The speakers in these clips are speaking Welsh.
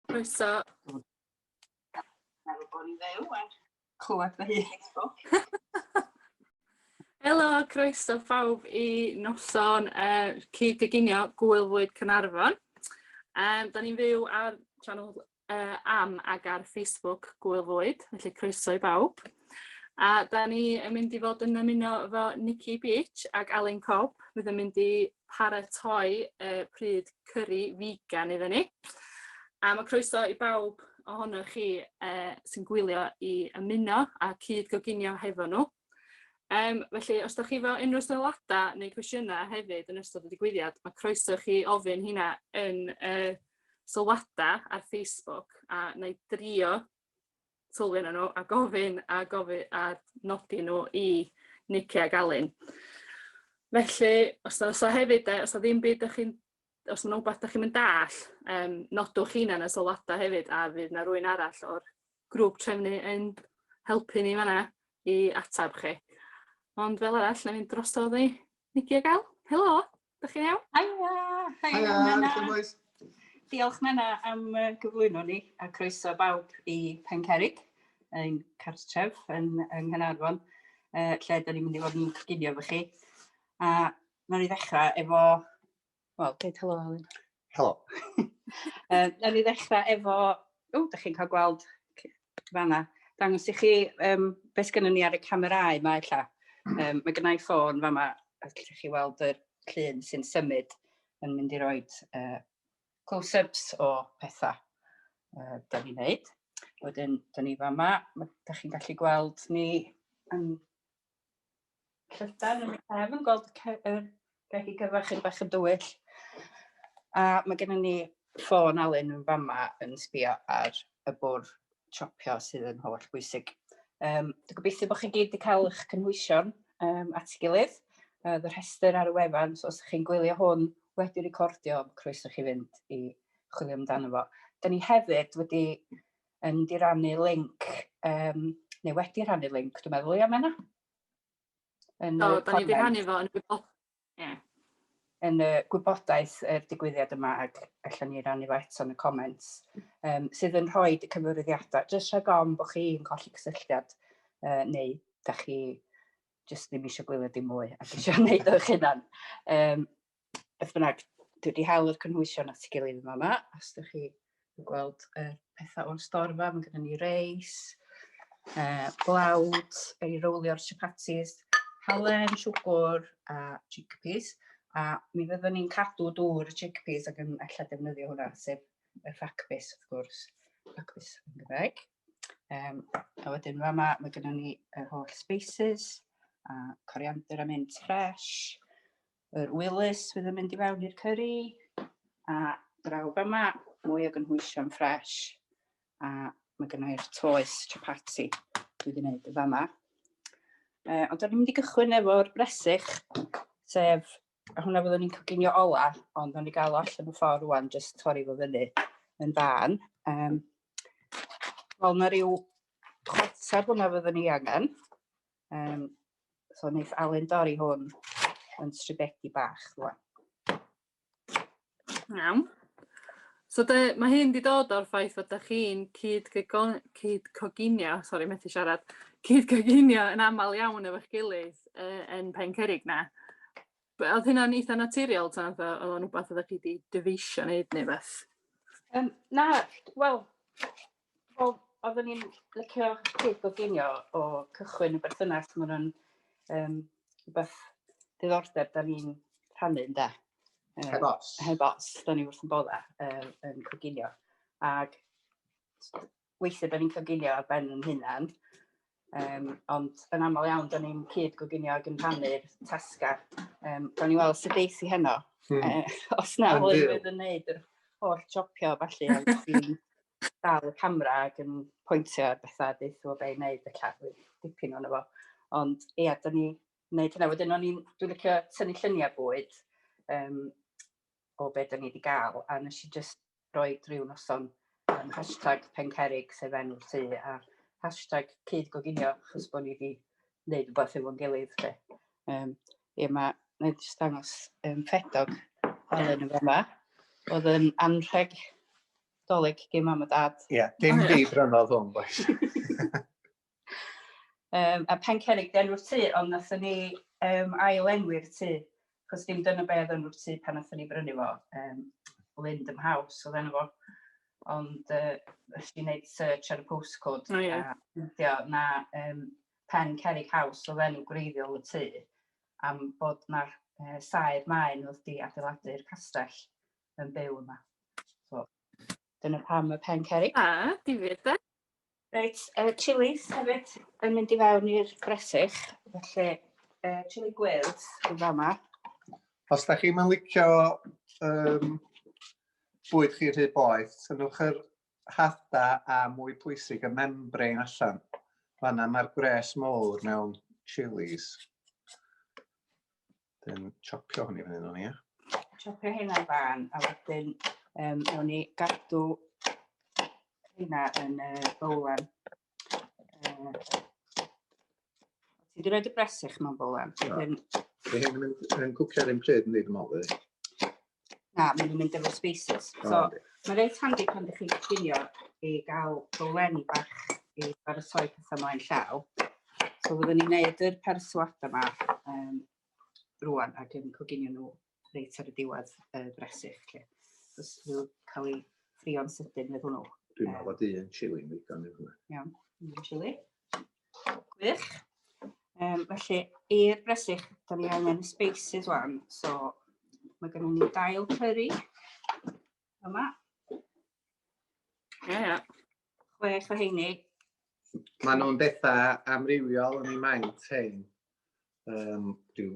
Croeso. Meddwl bod ni'n fyw a clywed fy hun. Helo, croeso phawb i noson uh, cyd-gyginio Gwylfwyd Cynarfon. Um, da ni'n fyw ar channel uh, am ag ar Facebook Gwyl Fwyd, felly croeso i bawb. A da ni yn mynd i fod yn ymuno efo Nikki Beach ac Alun Cobb fydd yn mynd i paratoi uh, pryd cyrru vegan iddyn ni. A mae croeso i bawb ohonoch chi uh, sy'n gwylio i ymuno a cyd goginio hefo nhw. Um, felly, os da chi fel unrhyw sylwadau neu cwestiynau hefyd yn ystod y digwyddiad, mae croeso chi ofyn hynna yn uh, sylwadau ar Facebook a na i drio sylwi nhw a gofyn a gofyn a nodi nhw i Nicky a Galin. Felly, os da, os da hefyd, os da ddim byd ydych chi'n os ma' 'na wbath dach chi'm yn dall', yym nodwch rheina yn y sylwada hefyd a fydd 'na rwyn arall o'r grŵp trefnu yn helpu ni fanna i atab chi. Ond fel arall nâi mynd drosodd i Nigi a Gael. Helo! Dach chi'n iawn? Haia! Haia, Menna. bois? Diolch Menna am yy gyflwyno ni a croeso bawb i Pencerrig, ein cartref yn yng Nghanarfon, yy lle 'dan ni'n mynd i fod yn coginio efo chi. A Nawn ni ddechrau efo... Wel, deud helo, Alun. Helo. uh, nawn ni ddechrau efo... O, da chi'n cael gweld fanna. Dangos i chi um, beth gynnu ni ar y camerau yma, illa. Um, mae gennau ffôn fama, a lle chi weld yr llun sy'n symud yn mynd i roi uh, close-ups o pethau uh, da ni'n neud. Wedyn, da ni fama, da chi'n gallu gweld ni yn Llydan yn y cefn, gweld yr gegi gyfa chyn bach yn dywyll. A mae gennym ni ffôn Alun yn fama yn sbio ar y bwr chopio sydd yn holl bwysig. Um, dwi'n gobeithio bod chi gyd wedi cael eich cynhwysion um, at gilydd. Uh, y rhestr ar y wefan, so os chi'n gwylio hwn wedi recordio, croeso chi fynd i chwilio amdano fo. Da ni hefyd wedi yn mynd i rannu link, um, neu wedi rhannu link, dwi'n meddwl, ia, Menna? Yn Do, da ni wedi rhannu fo yn y gwybodaeth. Yeah. Yn y gwybodaeth y digwyddiad yma ac allan ni rannu fo eto yn y comments, um, sydd yn rhoi y cyfyrwyddiadau, jyst rhag ofn bod chi'n colli cysylltiad uh, neu da chi jyst ddim eisiau gwylio dim mwy ac eisiau gwneud o'ch hunan. Um, beth bynnag, dwi wedi hel yr cynhwysion at ei gilydd yn fama, os ydych chi yn gweld y pethau o'r storfa, mae gennym ni reis, uh, blawd, ei rowlio'r chapatis, halen, siwgr a chickpeas, a mi fyddwn ni'n cadw dŵr y chickpeas ac yn allan defnyddio hwnna, sef y ffacbus, wrth gwrs, ffacbus yn Gymraeg. Um, a wedyn fa yma, mae gennym ni yr holl spices, a coriander a mint ffres, Yr wilys fydd yn mynd i fewn i'r cyrri a draw fyma, mwy o gynhwysion ffres a mae gynna i'r toes chapati dwi wedi gwneud yn fama. E, ond da ni'n mynd i gychwyn efo'r bresych, sef a hwnna fyddwn ni'n coginio ola, ond o'n i gael o allan y ffordd rwan, jyst torri fo fyny yn fan. Um, Wel, na rhyw chwarter hwnna fyddwn ni angen. Um, so wneud Alun dorri hwn yn stribedi bach rwan. Iawn. So de, mae hyn wedi dod o'r ffaith fod ydych chi'n cyd, cyd coginio, sori methu siarad, cyd coginio yn aml iawn efo'ch gilydd uh, yn pen cerig na. Oedd hynna'n eitha naturiol, ta oedd o'n rhywbeth oeddech chi wedi dyfeisio wneud neu beth? Um, na, wel, Wel, oeddwn i'n licio cwyd goginio o cychwyn y berthynas, mae hwnna'n um, beth diddordeb da ni'n rhannu ynda. Um, heb os. Heb os, da ni wrth yn bodda um, yn coginio. Ac weithiau da ni'n coginio ar ben yn hunan, Um, ond yn aml iawn, da ni'n cyd goginio ac yn rhannu'r tasgau. Um, da ni'n weld sydd deis i heno. Hmm. Uh, os na, hwy fydd yn neud yr holl jopio falle, ond sy'n dal y camera ac yn pwyntio ar bethau deith o fe i wneud y cadw dipyn o'n efo. Ond ia, da ni wneud hynna. Wedyn o'n i'n, dwi'n licio tynnu lluniau bwyd. Um, o be dan ni wedi gael, a nes i jyst roi rhyw noson um, hashtag pencerig sef enw'r tŷ, a hashtag cyd goginio, chos bod ni wedi gwneud rhywbeth efo'n gilydd. Fe. Um, ie, mae, mae jyst dangos um, ffedog Helen yn yma. Oedd yn anrheg doleg gen mam a dad. Ie, yeah, dim byd rhan oedd hwn, boes. Um, a Pencerrig di enw'r tŷ, ond nathon ni um, ail enwi'r tŷ, cos dim dyna be oedd enw'r tŷ pan nathon ni brynu fo. Um, Lindham House oedd enw fo. Ond uh, ys i'n gwneud search ar y postcode, oh, yeah. a ffeindio na um, Pen Cerrig House oedd enw gwreiddiol y tŷ, am bod na uh, saer maen oedd di adeiladu'r castell yn byw yma. So, Dyna pam y pen ceri. A, difyr de. Reit, y uh, chilis hefyd yn mynd i fewn i'r bresych, felly uh, chili gwyrdd yn fama. Os da chi'n licio um, bwyd chi rhy boeth, tynnwch yr hada a mwy pwysig y membrain allan. Fanna mae'r gwres mowr mewn chilies. Wedyn chopio hwn i fyny nhw'n ia. Chopio hynna fan, a wedyn um, ewn ni gadw hynna yn y uh, bowlen. Uh, ti wedi rhoi dy bresych mewn bowlen? Wedyn... Mae hyn yn cwcio ar un pryd yn dweud yn ôl, Na, maen nhw'n mynd efo spaces. So, oh, mae'n reit handi pan ydych chi'n gyffinio i gael dolen bach i baratoi pethau mlaen llaw. So, fyddwn ni'n gwneud yr persuad yma um, rwan ac yn coginio nhw reit ar y diwedd y bresych. Lle. Os nhw cael ei ffrio'n sydyn fydd hwnnw. Dwi'n meddwl bod un chili yn ddigon i hwnna. Iawn, un chili. Gwych. Um, felly, i'r bresych, da ni angen y spaces wan. So, mae gennym ni dail curry yma. Ie, ie. Chwech o heini. Mae nhw'n bethau amrywiol yn ei maint hyn. Um, rhyw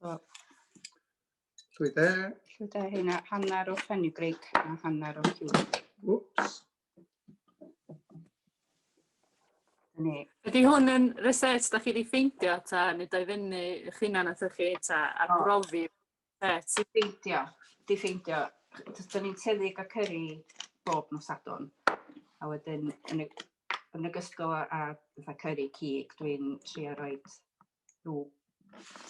So, llwy de. Llwy de hynna, hanner o fenugreek a hanner o ciwb. Whoops. Ydy hwn yn reset da chi wedi ffeindio ta neu da i fyny eich hunan atho chi ta a oh. brofi reset? Di ffeindio, di ffeindio. Dyna ni'n teddig a cyrru bob nos adon. A wedyn yn y, yn y gysgol a, a cyrru cig, dwi'n trio roed rhyw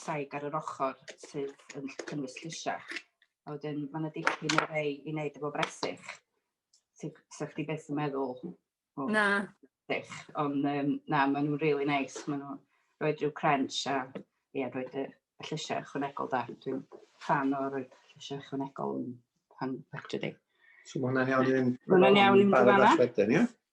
saig ar yr ochr sydd yn cynnwys llysiau. A wedyn mae yna dipyn o rei i wneud efo bresych. Sa chdi beth yn meddwl? O, na. Bresych. Ond um, na, maen nhw'n really nice. Maen nhw'n rhoi rhyw crunch a ie, rhoi y llysiau ychwanegol da. Dwi'n fan o rhoi llysiau ychwanegol yn pan fectri di. So mae hwnna'n iawn i'n... Mae hwnna'n iawn i'n fanna.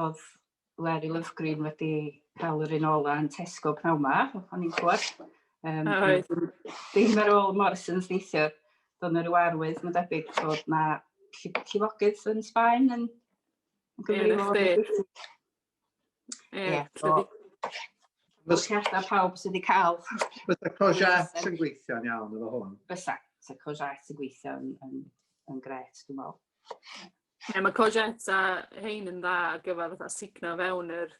Oedd Larry Lovegreen wedi cael yr un ola yn Tesco pnawn ma, o'n i'n clywed. Um, oh, right. Ddim ar ôl Morrison's neithiwr, doedd yna rhyw arwydd, mae'n debyg bod yna llifogydd yn Sbaen yn gyfrifol. Ie, yeah, so, Fysiadau pawb sydd wedi cael. Fysa Cojat yn gweithio'n iawn efo hwn. Fysa, fysa Cojat yn gweithio'n yn, yn gret, dwi'n meddwl. Ie, mae courgettes a hein yn dda ar gyfer fatha sugno fewn yr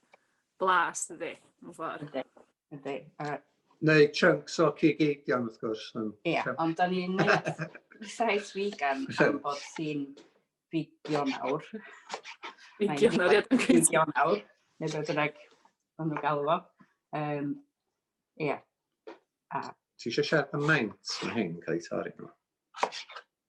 blas, dydy, mewn ffordd. Ydy, ydy. A... Neu chunks o cig eidion, wrth gwrs. Ie, yeah, ond da ni'n neud rhywbeth vegan am bod ti'n figio nawr. Figio nawr, ie. Figio nawr, neu beth bynnag o'n nhw'n galw fo. Um, ie. Yeah. A... Ti eisiau siarad am maint? Mae hyn cael ei torri nhw.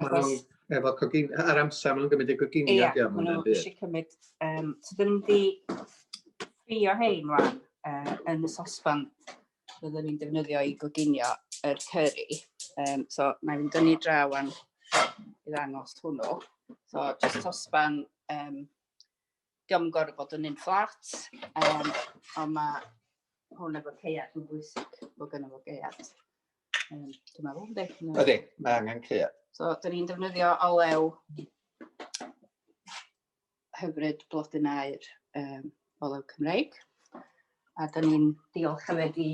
Achos... Efo cogin... Ar amser maen nhw'n gymryd eu coginio. Ia, yeah, maen nhw eisiau cymryd... Um, so dyn nhw'n di ffrio hein rwan uh, yn y sosfan byddwn ni'n defnyddio i goginio yr er curry. Um, so na i'n dynnu draw am i ddangos hwnnw. So just sosfan um, diolch yn gorfod bod yn un fflat, um, ond mae hwn efo ceiad yn bwysig bod gen fo geiad. Um, dwi'n meddwl, ynddi? Ydy, mae angen ceiad. So, dyn ni'n defnyddio olew hyfryd blodyn air um, olew Cymreig. A dyn ni'n diolch hefyd i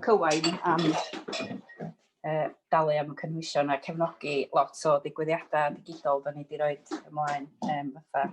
Cywain am uh, dalu am y cynhwysion a cefnogi lot o ddigwyddiadau digidol dyn ni wedi rhoi ymlaen um, fatha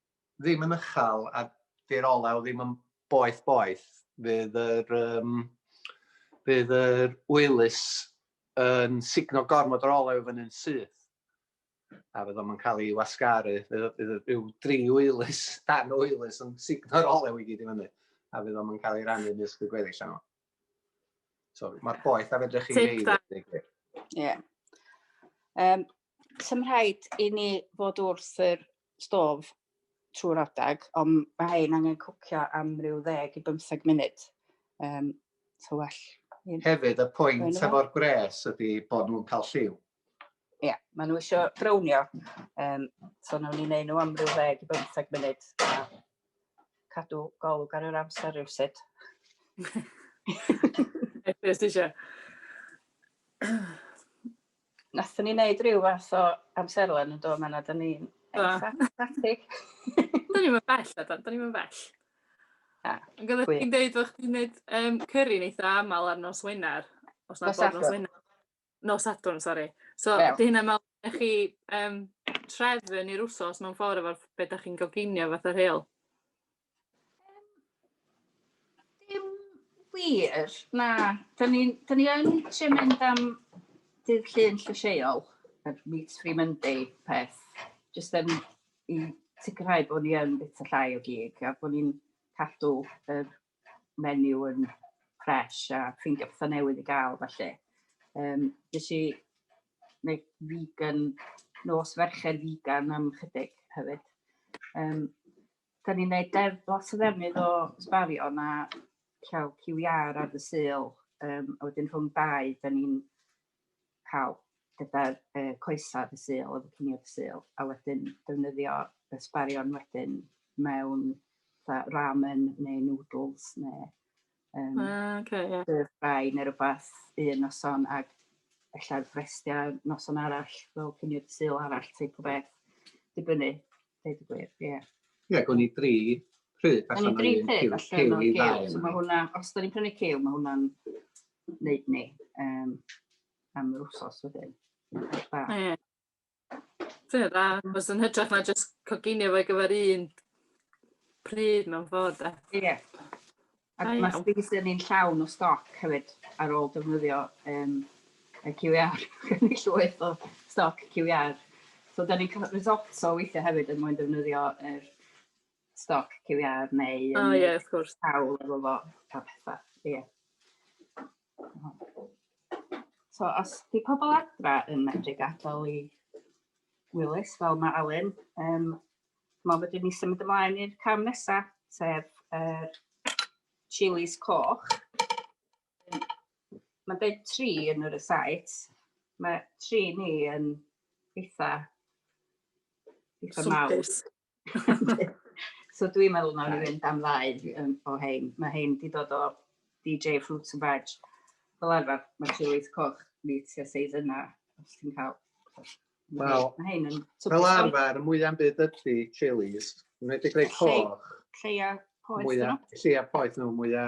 ddim yn uchel a di'r olew ddim yn boeth boeth, fydd yr um, bydd yr wylus yn signo gormod o'r olew fan hyn syth a fydd o'n cael ei wasgaru, bydd rhyw dri wylus, dan wylus yn signo'r olew i gyd i fyny a fydd o'n cael ei rannu nes y gweddill yno. So, mae'r boeth a fedrwch chi wneud. Ie. Um, Sa'm rhaid i ni fod wrth yr stôf trwy'r adeg, ond mae ein angen cwcio am ryw ddeg i bymtheg munud. Um, so well. Hefyd, y pwynt efo'r gwres ydy bod nhw'n cael lliw. Ie, yeah, maen nhw eisiau brownio. Um, so nawn ni'n neud nhw am ryw ddeg i bymtheg munud. A cadw golwg ar yr amser rhywsut. Beth eisiau? Wnaethon ni wneud rhyw fath o amserlen yn do, mae yna, da ni'n ecstatic. da ni'n mynd bell, da ni'n mynd bell. Ah, Yn gyda chi'n dweud bod chdi'n gwneud um, cyrri yn eitha aml ar nos Wener, os na bod nos Wener. Nos Sadwrn, sori. So, yeah. di hynna mewn chi um, trefn i'r wsos mewn ffordd efo'r beth da chi'n goginio fath o'r heol. Dim wir, na. Da ni, da ni yn trio mynd am dydd llun llysieuol, yr Meat Free Monday peth, jyst yn i sicrhau bod ni yn bit o llai o gig a bod ni'n cadw yr menu yn fresh a ffeindio pethau newydd i gael felly. Um, nes i wneud vegan, nos ferched vegan am chydig hefyd. Um, 'dan ni'n neud deddf lot o ddefnydd o sbario na llaw Cyw Iâr ar y Sul yym a wedyn rhwng dau 'dan ni'n ca'l gyda'r yy coesa ar y Sul efo cinio ar y Sul a wedyn defnyddio y sbarion wedyn mewn fatha ramen neu nwdls ne' Um, ah, okay, yeah. Dydd bai neu rhywbeth un noson ac efallai frestiau noson arall fel cynnydd syl arall teip o beth. Dibynnu, dweud y gwir, ie. Yeah. Ie, yeah, gwn i dri pryd allan o'n un cyw, cyw i ddau. So mae hwnna, os da ni'n prynu cyw, mae hwnna'n neud ni um, am yr wsos wedyn. Ie. Ti'n dda, achos yn hytrach na jyst coginio fo ar gyfer un pryd mewn ffordd de. Ie. Ac Da mae iawn. Space Inni'n llawn o stoc hefyd ar ôl defnyddio um, y QR. Gen i llwyth o stoc QR. So da ni'n cael risotto weithiau hefyd yn mwyn defnyddio yr stoc QR neu yn... O ie, wrth gwrs. ...cawl efo fo a pethau. Ie. So, os di pobl adra yn medru gadael i Wilys, fel mae Alun, um, mae wedi ni symud ymlaen i'r cam nesaf, sef er, chilis coch. Mae'n dweud tri yn yr ysait. Mae tri ni yn eitha, eitha mawr. so dwi'n meddwl nawr i fynd am ddau um, o hein. Mae hein di dod o DJ Fruits and Veg. Fel arfer, mae tywydd coch ni tua seis yna, os ti'n cael. Wel, mae hein yn... Fel arfer, mwy am byd ydy chilies, yn wedi greu coch. Lleia poeth nhw. Lleia poeth nhw, mwy a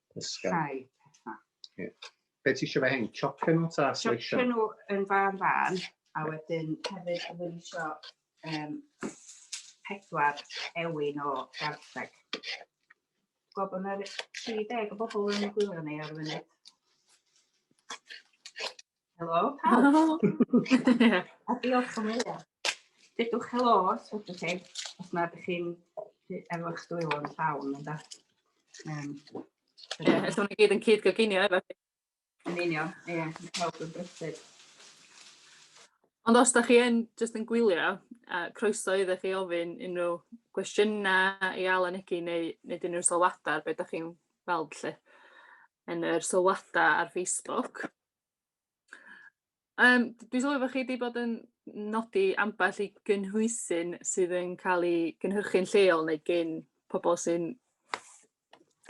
Pysgod. Rhai pethau. Yeah. Be ti eisiau fe hyn? Chopio nhw ta sleisio? Chopio nhw yn fan fan, a wedyn hefyd yn mynd eisiau um, pedwar ewin o gartheg. Gwybod bod yna 30 o bobl yn gwylio ni ar y funud. Helo, pawb. Helo. A diolch am wylio. Dydwch helo, os ydych chi, os na ydych chi'n efo eich dwylo yn llawn, yn da. Um, Ie, os o'n i gyd yn cyd goginio efo chi. Yn union, ie, yeah, yn pawb yn brysur. Ond os da chi yn just yn gwylio, a croeso iddo chi ofyn unrhyw gwestiynau i Alan Egi neu, neu dyn nhw'n sylwadau ar beth da chi'n weld lle yn yr sylwadau ar Facebook. Yym dwi'n sylwi bod chi 'di bod yn nodi ambell i gynhwysyn sydd yn cael eu cynhyrchu'n lleol neu gin pobl sy'n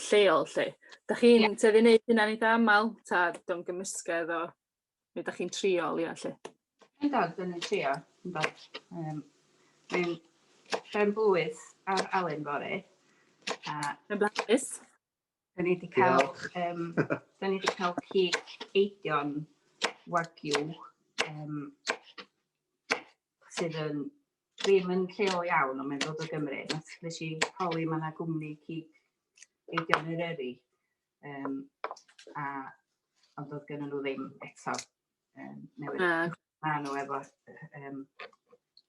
lleol 'lly. Dach chi'n... ia. ...tueddu i wneud hynna'n eitha' aml ta dio'n yn gymysgedd o be dach chi'n trio leol 'lly? Yndan, dan ni'n trio, yndan. Yym dwi'n ben-blwydd ar Alun Fory a... Pen-blwydd? Da ni wedi cael, um, da ni wedi cael cig eidion wagyu um, sydd yn ddim yn lleol iawn, ond mae'n dod o Gymru. Nes i holi mae yna gwmni cig eidion yr eri, um, a, ond doedd gen nhw ddim eto. um, newydd. Uh. A nhw efo um,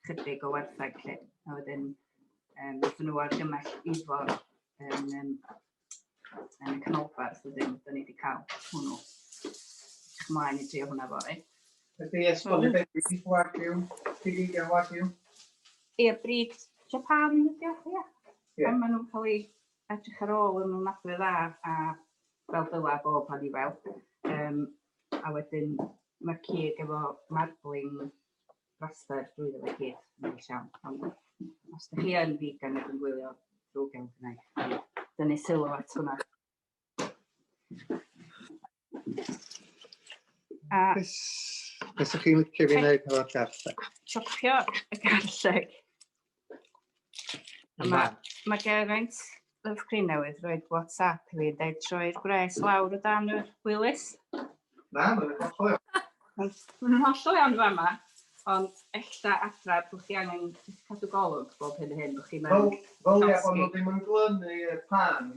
chydig o werthag lle. A wedyn, um, dyn nhw ar gymell ifor yn, um, yn y canolbarth, wedyn, dyn ni wedi cael hwnnw. Chymlaen i drio hwnna fori. Ydy esbonio beth ydy wagyu, pigig a wagyu? Ie, brig Japan ydy o, ie. Ie. Ond maen nhw'n cael ei edrych ar ôl yn ofnadwy dda a fel dyla bob pan i fel. Um, a wedyn ma'r cig efo marbling braster drwyddo fe i gyd, yn neis iawn. Ond os ydych chi yn vegan ac yn gwylio drwy gael gwneud, dynnu sylw at hwnna. A... Beth ydych chi'n licio fi wneud efo'r garlleg? Chopio y garlleg. A ma', ma' Geraint Love Cryn newydd roid WhatsApp i fi yn deud troi'r gwres lawr o dan y wylus. Na, mae'n hollol iawn. Mae'n hollol iawn yn fama, ond ella adra bod chi angen cadw golwg bob hyn a hyn, bod chi'n mynd... Wel, fel ie, ond nhw ddim yn glynu pan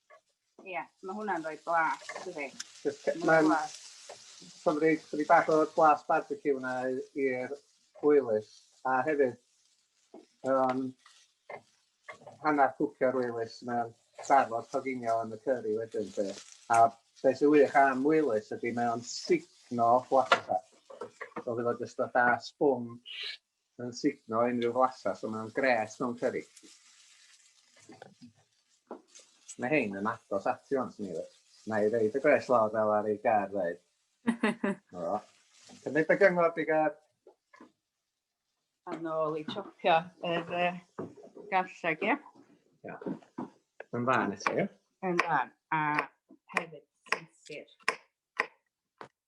Ie, yeah, mae hwnna'n rhoi blas, dydy. Mae'n cymryd chdi bach o'r blas barbecue yna i'r gwylus, a hefyd um, hanner cwcio'r wylus mewn trafod coginio yn y cyrri wedyn. Te. A beth sy'n wych am wylus ydy mewn signo flasa. So fydd o jyst fatha sbwng yn signo unrhyw flasau, so mae'n gret mewn cyrri. Mae hein yn agos ati o'n sy'n ei Na i reid y gwres lawr fel ar ei gar ddeud. o. Cymryd y gyngor di gar. A nôl i chopio yr uh, garlleg, ie? Ia. Yn fan eto, ie? Yn fan. A hefyd sisir.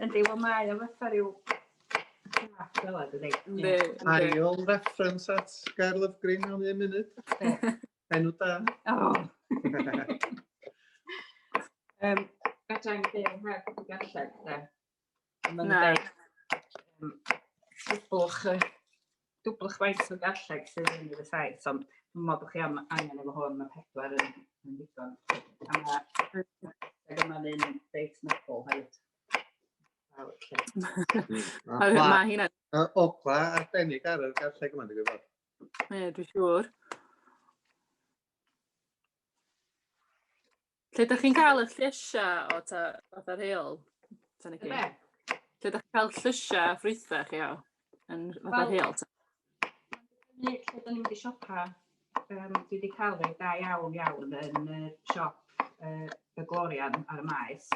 Yndi, wel mae o fatha rhyw... Yndi, Ail reference at Gair Lyfgrin mewn un munud. Enw da. O! um, Gadai'n byw heb y galled, da. Na. Bwch y dwbl chwaith o garlleg sydd yn y saith, ond dwi'n meddwl bod chi am angen efo hwn, mae pedwar yn, yn ddigon. A mae yma'n un beit nobl hefyd. Mae hynna... Ogla arbennig ar y garlleg yma, dwi'n gwybod. Ie, dwi'n siŵr. Lle da chi'n cael y llysiau o ta fatha rheol? Tan y Lle da chi'n cael llysiau ffrwythau chi o? Yn fatha rheol? Lle da ni'n mynd i siopa, um, dwi wedi cael rhai da iawn iawn yn y siop uh, y Glorian ar y maes.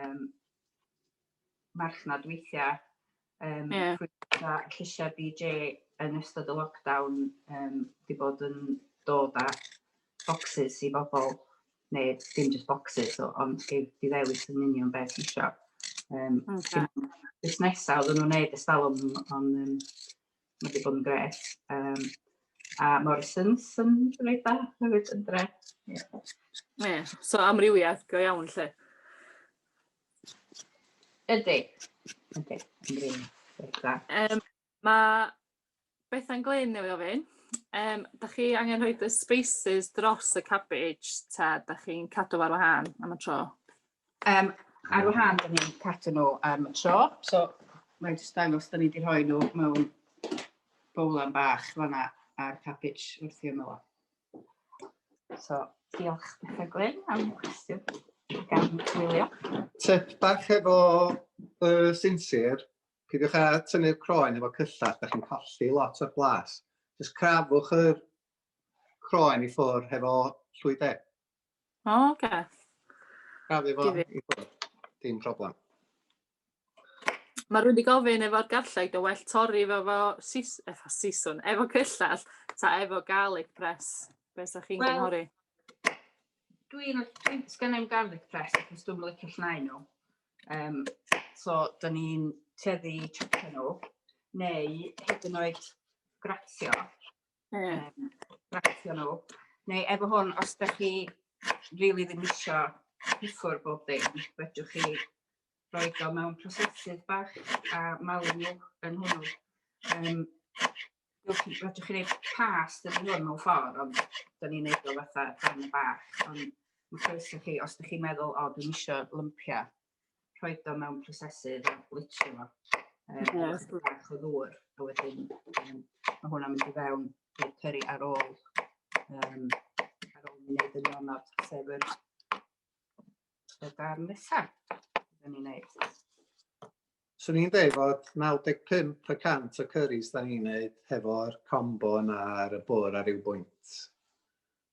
Um, marchnad weithiau, um, yeah. pwysau a lleisiau BJ yn ystod y lockdown um, wedi bod yn dod â boxes i bobl, neu dim just boxes, o, ond i ddewis yn union beth ti eisiau. Um, okay. Busnesau oedden nhw'n neud estalwm, ond um, mae wedi bod yn gret. Um, a Morrisons yn rhaid da, hefyd yn dre. Yeah. Yeah. So amrywiaeth go iawn lle. Ydy. Ydy. Um, mae Bethan Glyn newydd ofyn, um, da chi angen rhoi y spaces dros y cabbage ta da chi'n cadw ar wahân am y tro? Um, ar wahân da ni'n cadw nhw am y tro, so mae'n jyst dangos da ni wedi rhoi nhw mewn bowlan bach fanna a'r cabbage wrth i'r ymyl. So, diolch Betha Gwyn am cwestiwn gan Wilio. Tip bach efo uh, sinsir, peidiwch â tynnu'r croen efo cyllall, da chi'n colli lot o'r blas. Just crafwch yr croen i ffwrdd hefo llwydau. O, oce. Okay. Cadw fo i ffwrdd. Dim problem. Mae rhywun wedi gofyn efo'r garlleg, o well torri efo, efo, sis, efo siswn, efo cyllell, ta efo garlic press. Be sa chi'n well, gynghori? Dwi'n, dwi, sgan i'm garlic press, achos dwi'n licio llnau nhw. Um, so, da ni'n teddi chopio nhw, neu hyd yn oed gratio, Ie. Rhacio nhw. Neu efo hwn, os da chi rili ddim isio piffwr bob dim, fedrwch chi roi o mewn prosesydd bach a malu nhw yn hwnnw. Um, Rydych chi'n gwneud pas dyn ni hwn mewn ffordd, ond dyn ni'n gwneud o fatha dan y bach. Ond mae croeso chi, os ydych chi'n meddwl, o, dwi'n eisiau lympiau, rhoi o mewn prosesydd a blitio fo. Um, yes. Bach o ddŵr, a wedyn um, mae hwnna'n mynd i fewn i'r cyrri ar ôl, um, ar ôl ni wneud y nionod, sef yr, y darn nesaf. Dyna ni'n neud. Swn i'n dweud fod 95% o cyrris da ni'n neud hefo'r combo yna ar y bwr ar ryw bwynt.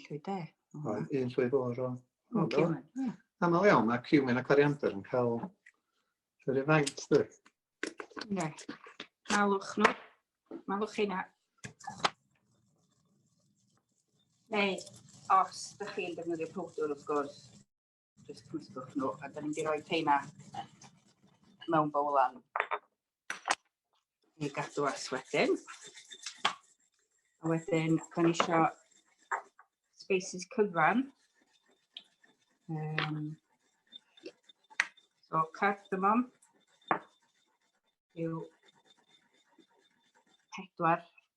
Llwy de. Oedd un llwy fawr o. Aml iawn, mae cumin a coriander yn cael yr un faint, dwi. Ne. Malwch nhw. Malwch hynna. Neu, os ydych chi'n defnyddio powdwr, wrth gwrs, Just twistwch nhw, a da ni'n di roi teina mewn bowlan i gadw as wedyn. A wedyn, da ni eisiau spaces cyfan. Um, so, cardamom yw pedwar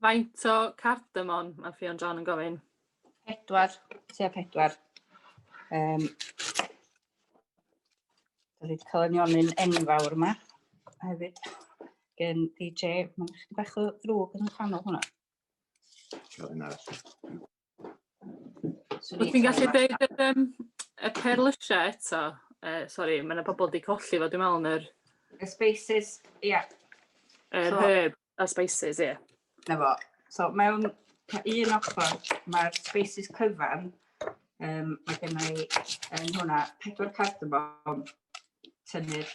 Faint o cardamon mae Ffion John yn gofyn? Pedwar, tua pedwar. Um, Dwi wedi cael nionyn enfawr yma hefyd gen DJ. Mae'n eich bach o ddrwg yn y canol hwnna. Cael un arall. Wyt ti'n gallu deud yr yym y perlysia eto? Yy sori ma' 'na pobol 'di colli fo dwi me'wl yn yr... Y spaces ia. Yr so, herb a spices ia. 'Na fo. So mewn un ochr mae'r spaces cyfan um, mae gennau yn hwnna pedwar cardamom tynnu'r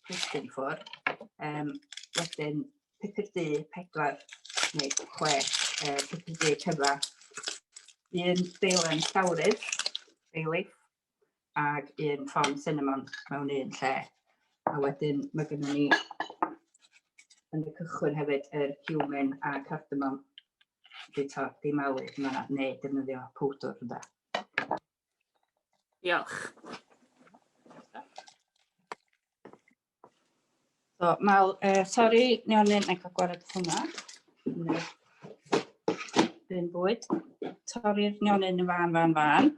plistin ffwr. Um, wedyn pupur du pedwar neu chwe uh, pupur du cyfa. Un deilen llawrydd, beilif, ac un ffon cinnamon mewn un lle. A wedyn mae gennym ni yn y cychwyn hefyd yr human a cardamom di, to, di malu yma neu defnyddio powdwr yna. Diolch. So, mal, uh, sori, nionyn, na i cael gwared hwnna. Dyn bwyd. Torri'r nionyn yn fan, fan, fan.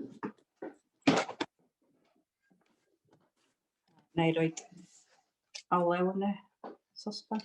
Na i roi olew yn y sosban.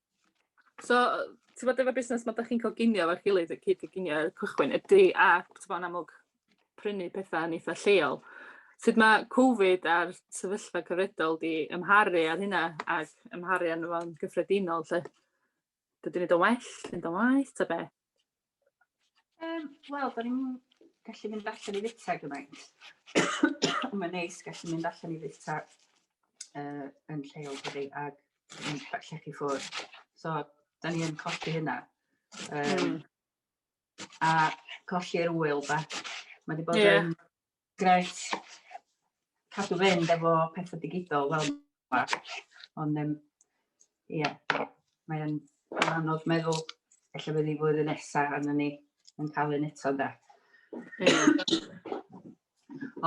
So, ti'n bod efo busnes mae ydych chi'n coginio efo'r gilydd, y cyd coginio ar y cychwyn, ydy a ti'n bod yn amlwg prynu pethau yn eitha lleol. Sut mae Covid a'r sefyllfa cyfredol di ymharu ar hynna ac ymharu arno fo'n gyffredinol lle? Dydyn ni do well, dydyn ni do waith, ta be? Um, Wel, da ni'n gallu mynd allan i fita gymaint. Mae'n neis gallu mynd allan i fita uh, yn lleol dydy, ac yn llechi ffwrdd. So, da ni yn colli hynna. Um, mm. A colli'r wyl, da. Mae wedi bod yeah. yn Grêt. Cadw fynd efo pethau digidol fel yma. Ond um, ie, yeah, mae'n anodd meddwl efallai bydd ni flwyddyn nesaf arno ni yn cael un eto da.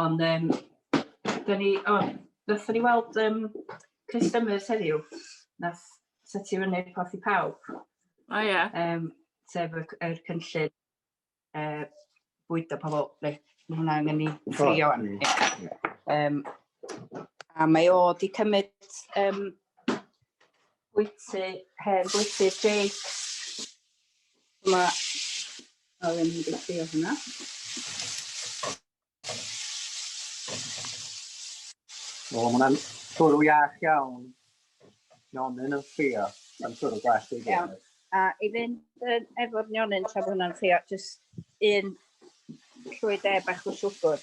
Ond um, da ni, o, oh, ddethon ni weld um, customers heddiw, nath seti fyny'r porth i pawb. O ie. Yeah. Um, sef yr, yr cynllun yy bwydo pobl, reit, mae hwnna angen i ffrio wan. Um, a mae o di cymryd um, bwyty, hen bwyty Jake. Mae, o, ddim wedi ffrio hwnna. O, mae hwnna'n twrw iach iawn. Nionyn yn ffrio. Mae'n twrw glas i Iawn. A i fynd yn efo'r nionyn tra bod hwnna'n ffrio, jyst un llwy de bach o siwgr.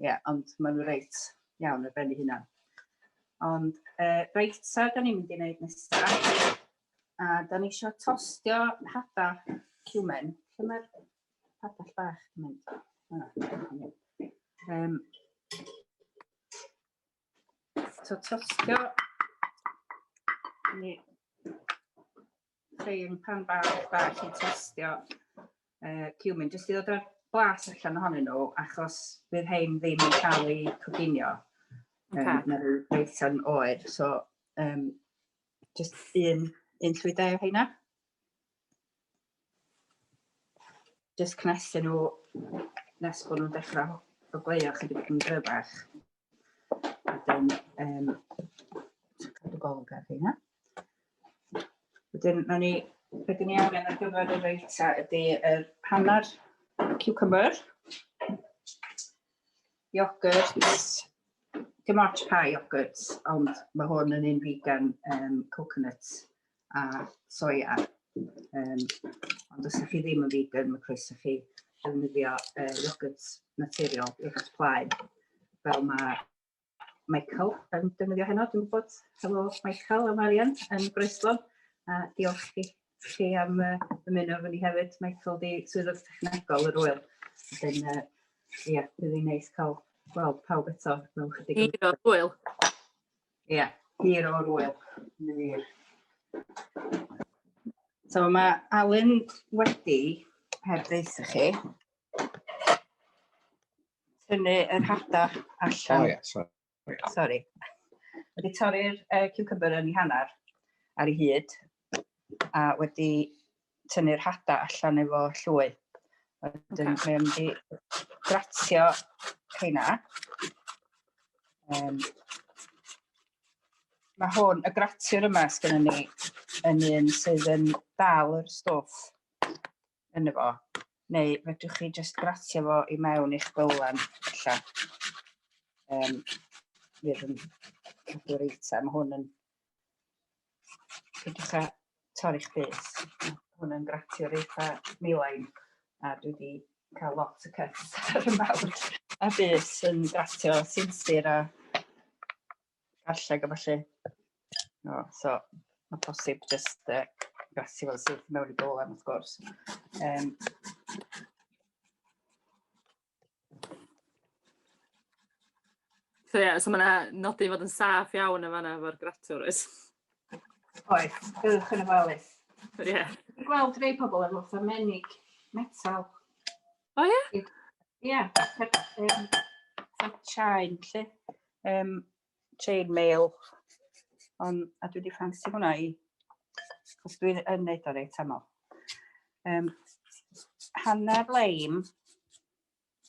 Ie, ond maen nhw reit iawn ar ben ei hunan. Ond uh, reit, so da ni'n mynd i wneud nesaf. A da ni eisiau tostio hada cumen. Lle mae'r padell bach yn mynd? Ah, um, so tostio ni Ffein pan bach bach i testio uh, cumin, jyst i ddod â'r blas allan ohonyn nhw, achos bydd hein ddim yn cael ei coginio. Okay. Um, na rhyw reithion oer, so um, jyst un, un llwydau o heina. Jyst cnesu nhw nes bod nhw'n dechrau o gleio chydig yn gryfach. Wedyn, um, cadw golwg ar hynna. Wedyn, na ni, beth ni angen ar gyfer y reita ydy yr hanner cucumber, yogurts, dim ots pa yogurts, ond mae hwn yn un vegan um, coconut a soia. Um, ond os ydych chi ddim yn vegan, mae croeso chi ddefnyddio uh, iogwrt naturiol, iogwrt plaen, fel mae Michael yn defnyddio heno. Dwi'n gwybod, helo Michael a Marian yn Groeslon. A diolch chi, chi am uh, ymuno efo ni hefyd. Michael di swyddog technegol yr wyl. Wedyn, uh, ia, bydd hi'n neis cael gweld pawb eto mewn chydig. Hiro, wyl. Ie, yeah, hir o'r wyl. Hir. So mae Alun wedi, heb ddeis i chi, tynnu yr hada allan. Oh, yeah, sorry. Sorry. Wedi torri'r uh, cucumber yn ei hanner ar ei hyd a wedi tynnu'r hada allan efo llwy. A wedyn okay. mae o'n mynd i gratio rheina. Um, mae hwn, y gratiwr yma sgynny ni, yn un sydd yn dal yr stwff yn efo. Neu fedrwch chi just gratio fo i mewn i'ch bylen, illa. Um, fydd yn cadw reita. Mae hwn yn Dwi'n dechrau torri'ch bys. Mae hwn yn gratio'r eitha milain a dwi wedi cael lot o cuts ar y mawr a bys yn gratio sinsir a garlleg a falle. No, so mae posib just uh, gratio fel sydd mewn i bolen wrth gwrs. Um, So ie, so mae'n yna nodi fod yn saff iawn yn fanna efo'r gratur oes? Oes, byddwch yn ofalus. Ie. Dwi'n gweld rei pobl efo fatha menig metal. O ie? Ie, fatha chain lle. Um, chain mail. Ond, a dwi wedi ffansi hwnna i, os dwi'n yn neud o reit aml. Um, hanner leim.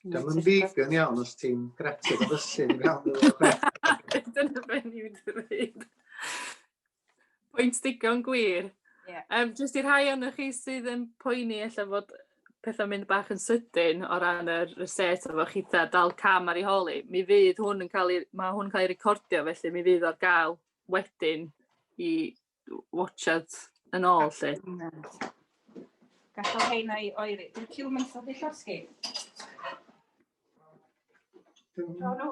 Dyma yn vegan iawn os ti'n gretio dy fysu yn iawn. Dyna fe ni'n dweud. Pwynt digon gwir. Ie. Yym jyst i rhai ohonoch chi sydd yn poeni ella fod petha'n mynd bach yn sydyn o ran yr reset efo chitha dal cam ar ei hol 'i, mi fydd hwn yn ca'l 'i ma' hwn yn ca'l 'i recordio felly mi fydd o ar ga'l wedyn i w- watsiad yn ôl 'lly. Gallwch ein ai oeri. Dwi'n ciwmyn syllu llosgi. Dwn. Dwn.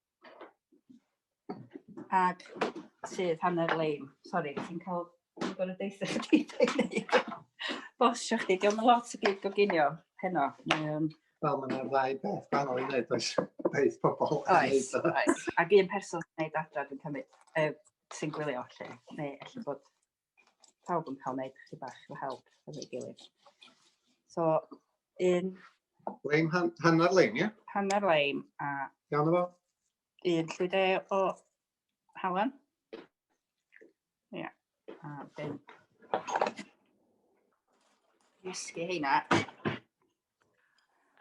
Ag sydd hanner leim. Sori, ti'n cael yn gorau deitha chdi dweud. Bosio chdi, diolch yn lot o gyd goginio heno. Um, Wel, mae'n yna ddau beth gwahanol i wneud, oes beth pobl yn oes, wneud. Oes, ac un person yn gwneud adra, dwi'n cymryd, uh, sy'n gwylio, lle, neu efallai bod pawb yn cael wneud chi bach o help efo'i gilydd. So, un... Leim, han, hanner leim, ie? Yeah? Hanner leim a... Iawn efo? Un llwyde o halen. Ie. Yeah. A dyn. Ysgu heina.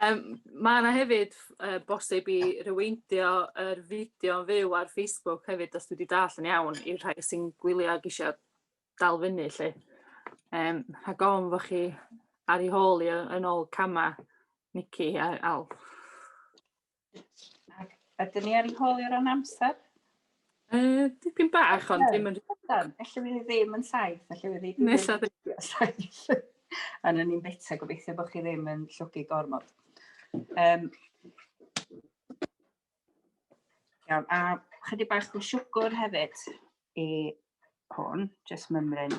Yym ma' 'na hefyd yy bosib i ryweindio yr fideo yn fyw ar Facebook hefyd os dwi 'di dallt yn iawn i'r rhai sy'n gwylio ag isio dal fyny 'lly yym rhag ofn bo' chi ar 'u hôl i yy yn ôl cama' Mici a Alw. Ac ydyn ni ar yn holi o ran amser? Uh, dipyn bach, ond ddim yn... Felly fi ddim yn saith, felly fi ddim yn saith. Ond yn ni'n beta, gobeithio bod chi ddim yn llwgu gormod. Um, iawn, a chydig bach o siwgr hefyd i hwn, jyst mymryn.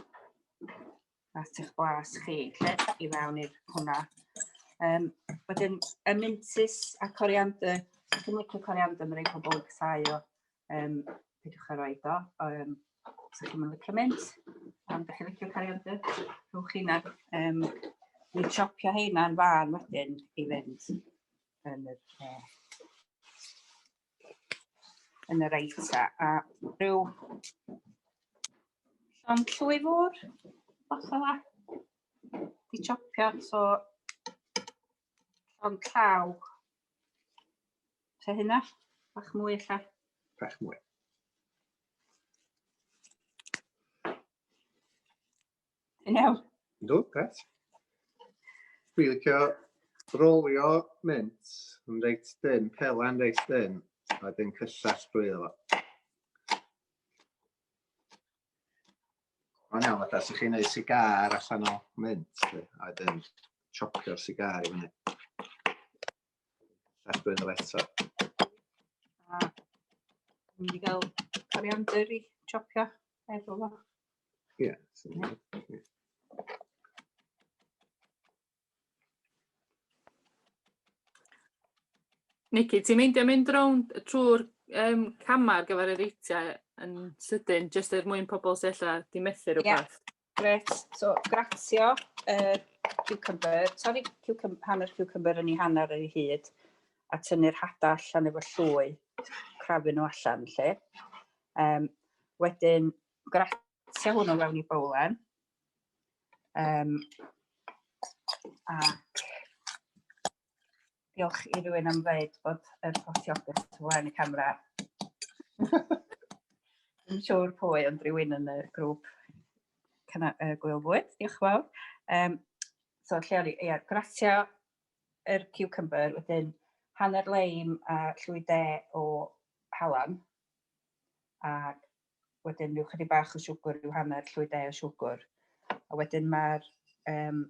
at eich blas chi, lled i fewn i'r hwnna. Um, wedyn, y mintus a coriander, dwi'n licio coriander, mae'n rhaid pobl yn casau o, um, pidwch ar oed o. Um, os ydych chi'n licio mint, am ydych chi'n licio coriander, rhywch chi'na. Um, Ni chopio heina'n fan wedyn i fynd yn yr uh, yn yr eita a rhyw llon llwy fwr, bach fel la. Di chopio, so llon llaw. Se hynna, bach mwy lle. Bach mwy. Yn iawn. Ynddo, gret. Dwi'n licio rolio mynd yn reit dyn, pelen reit dyn, a dyn cyllell drwy efo. Mae'n iawn, fatha, sy'ch chi'n gwneud sigar allan o mynd, a dyn chopio'r sigar i fyny. Cyllell drwy efo eto. A, mynd i gael coriander i chopio efo fo. Yeah. Nicky, ti'n meindio mynd rownd trwy'r um, camau ar gyfer y reitiau yn sydyn, jyst er mwyn pobl sy'n lle di methu rhywbeth? Yeah. Gret, so gratio uh, cucumber, torri cucumber, hanner cucumber yn ei hanner ar ei hyd, a tynnu'r hada allan efo llwy, crafu nhw allan lle. Um, wedyn, Gratio hwnnw mewn i bowlen. Um, a diolch i rywun am ddeud bod yr postiogus tu flaen y camera. Yn siŵr pwy, ond rhywun yn y grŵp cyna, uh, Gwyl Fwyd, diolch yn fawr. Um, so, lle o'n i, ia, gratio yr er cucumber, wedyn hanner leim a llwy de o halan, a wedyn rhyw chydig bach o siwgr, rhyw hanner llwydau o siwgr. A wedyn mae'r um,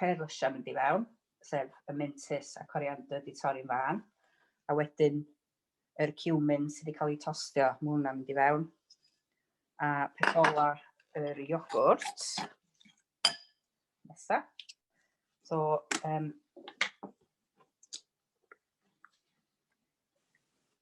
pêr lysiau mynd i fewn, sef y mintys a coriander di torri'n fan. A wedyn yr cumin sydd wedi cael ei tostio, mae hwnna'n mynd i fewn. A peth ola yr iogwrt. Nesa. So, um,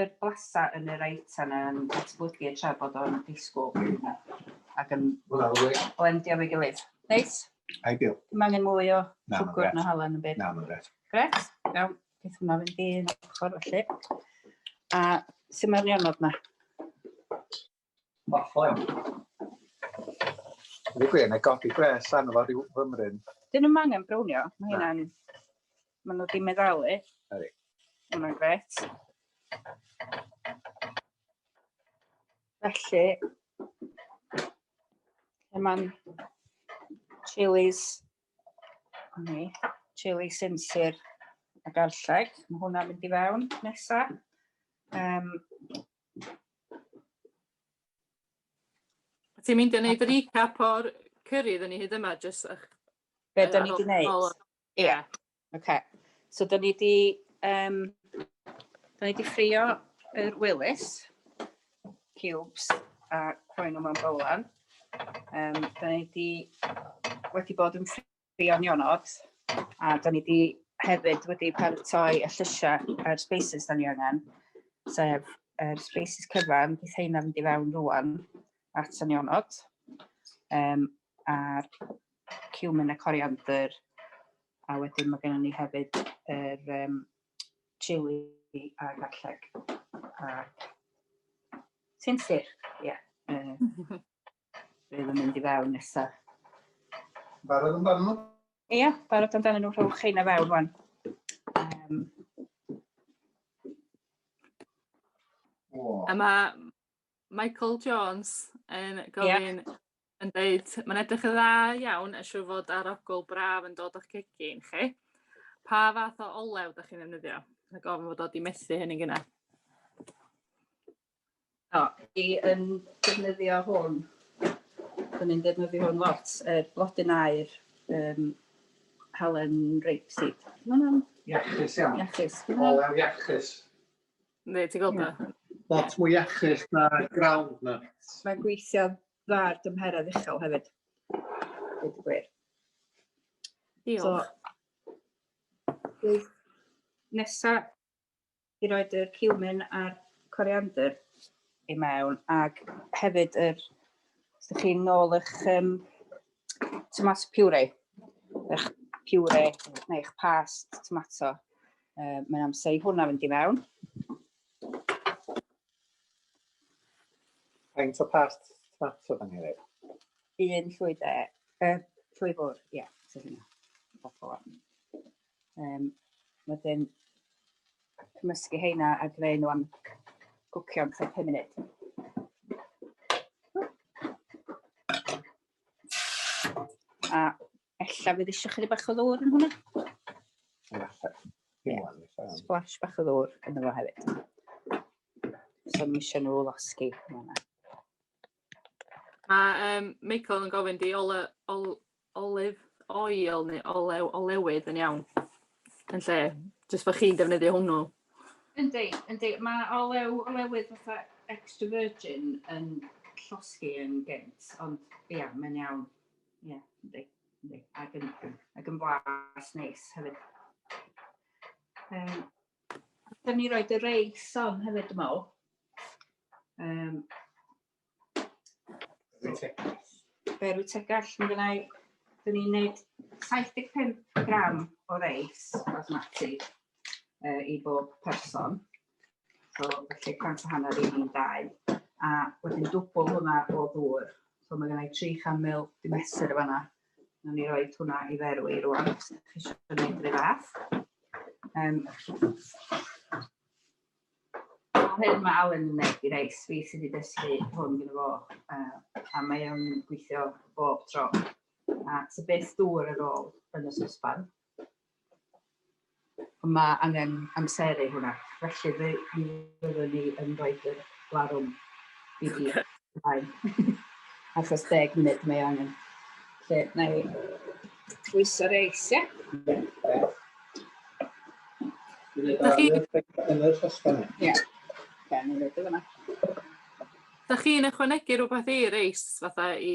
yr blasau yn yr aetan yn datblygu tra bod o'n disgwyl ac yn blendio efo'i gilydd. Neis? Ideal. Dim angen mwy o siwgr na halen yn byd. Na, mae'n gret. Gret? Iawn. Beth hwnna fynd i ochr felly. A sut mae'r nionod na? Mor ffon. Dwi'n gwir, neu godi gwres arno fo rhyw fymryn. Dyn nhw'n angen brownio, mae hynna'n... Mae nhw di meddalu. Ydy. Mae hwnna'n gret. Felly, lle mae'n chilies, ni, chili sinsir a garlleg. Mae hwnna'n mynd i fewn nesa. Um, Ti'n mynd i wneud recap o'r cyrri iddyn ni hyd yma, jyst ych... Be da ni wedi wneud? Ie. Yeah. OK. So da ni wedi... Um, da ni wedi ffrio yr Willis cubes a rhoi nhw mewn bolan. Um, da ni wedi, wedi bod yn ffrio Beyond Your Nod, a da ni wedi hefyd wedi paratoi y llysiau a'r spaces da ni angen, sef yr spaces cyfan, bydd heina fynd i fewn rwan at y nionod, um, a'r cumin a coriander, a wedyn mae gennym ni hefyd yr um, chili a garlleg. A... Ti'n sir? Ie. Yeah. Uh, Bydd yn mynd i fewn nesaf. Barod amdano nhw? Ia, barod amdano nhw rhywch chi na fewn rwan. Um, A mae Michael Jones yn gofyn yeah. yn dweud, mae'n edrych yn dda iawn, a siw fod arogl braf yn dod o'ch cegin chi. Pa fath o olew ydych chi'n ddefnyddio? Mae gofyn fod o di methu hynny'n gyna. O, i yn defnyddio hwn. Dyn ni'n defnyddio hwn lot, y er, blodyn aer, um, halen rapeseed. Mae hwnna'n... Iachus iawn. Iachus. Olew iachus. Ne, ti'n gweld yeah. Lot mwy iachus na ground na. Mae'n gweithio dda ar dymheredd uchel hefyd. Dwi'n gwir. Diolch. So, nesa i roed y cumin a'r coriander i mewn ac hefyd yr os ydych chi'n nôl eich um, tomato puree, eich puree neu eich past tomato. Uh, mae'n amser i hwnna fynd i mewn. Faint o past tomato fan hefyd? Un llwy de, uh, llwy fwr, ie, yeah, so hynna. Um, wedyn cymysgu heina a greu nhw am gwcio am 5 munud. A ella fydd eisiau chydig bach o ddŵr yn hwnna? Splash bach o ddŵr yn yma hefyd. So mi eisiau nhw losgi hwnna. Mae yym Michael yn gofyn 'di ole ol- olive oil neu olew olewydd yn iawn? Yn lle jyst bo' chi'n defnyddio hwnnw. Yndi yndi ma' olew olewydd fatha extra virgin yn llosgi yn gynt ond ia mae'n iawn. Ia yndi yndi ag yn ag yn blas neis hefyd. Yym. Allwn ni roed y reis on hefyd, dwi'n meddwl. Um, Beru tegall, mae gynna i, dyn ni'n neud 75 gram o reis basmati uh, i bob person. So, felly, cant o hanner i ni'n dau. A wedyn dwbl hwnna o ddŵr. So, mae gynna i 300 ml di mesur y fanna. Nawn ni roi hwnna i ferw i rwan, os ydych chi eisiau gwneud rhywbeth fath. Um, hyn mae Alan yn gwneud i reis, fi sydd wedi dysgu hwn gyda fo, uh, a mae o'n gweithio bob tro. A sy'n beth dŵr ar ôl yn y sosban, Mae angen amseru hwnna, felly fe fyddwn ni yn rhoi y larwm i fi ymlaen. Achos deg munud mae angen. Lle, na i pwyso reis, ie? Da chi... Yn yr hosbon. Ie. Da chi'n ychwanegu rhywbeth i reis, fatha i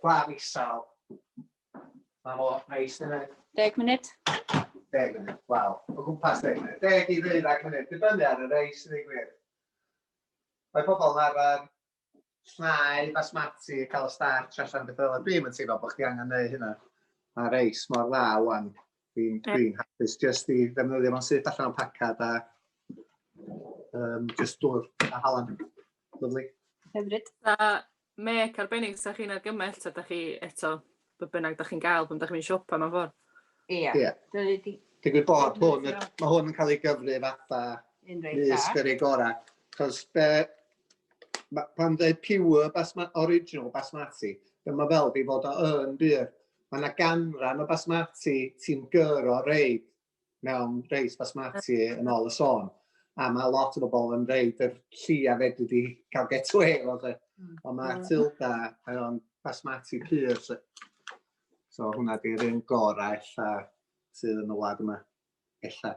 Claf isel. Mae mor neis yna. Deg munud. Deg munud, wel, o gwmpas deg munud. Deg i ddeuddeg munud, dibynnu ar y reis yn ei gwir. Mae pobl yn arfer llnau basmati, cael y starch allan beth fel yna. Dwi'n yn teimlo bod chdi angen neu hynna. Mae reis mor dda wan. Dwi'n yeah. dwi hapus jyst i ddefnyddio fo'n syth allan o'n pacad a um, jyst dŵr a halan. Lyflu. Hyfryd. A mec arbennig sa chi'n argymell ta da chi eto be bynnag da chi'n gael pan da chi'n mynd siopa mewn ffordd? Ie. Yeah. Yeah. Dwi'n gwybod bod hwn, mae hwn yn cael ei gyfri fatha nis gyrru gorau. Cos be, ma, pan dweud pure basma, original basmati, dyma fel fi fod o yn byr. mae yna ganran o basmati ti'n gyro reid mewn reis basmati yn ôl y sôn. A mae lot o bobl yn reid yr lli a fedri di cael get away efo fe. Hmm. Ond mae hmm. Tilda yn basmati pur. So, so hwnna di'r un gorau ella sydd yn y wlad yma. Ella.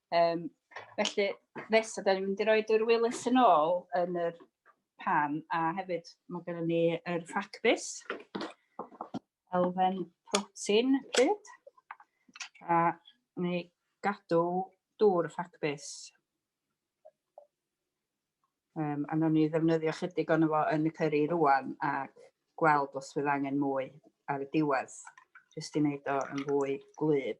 Um, felly, nesa, da ni'n mynd i roi dwy'r Willis yn ôl yn yr pan, a hefyd mae gennym ni yr ffacbus, elfen protein pryd, a ni gadw dŵr y ffacbus. Um, a nhw'n ni ddefnyddio chydig o'n efo yn y cyrri rwan a gweld os fydd angen mwy ar y diwedd, jyst i wneud o yn fwy gwlyb.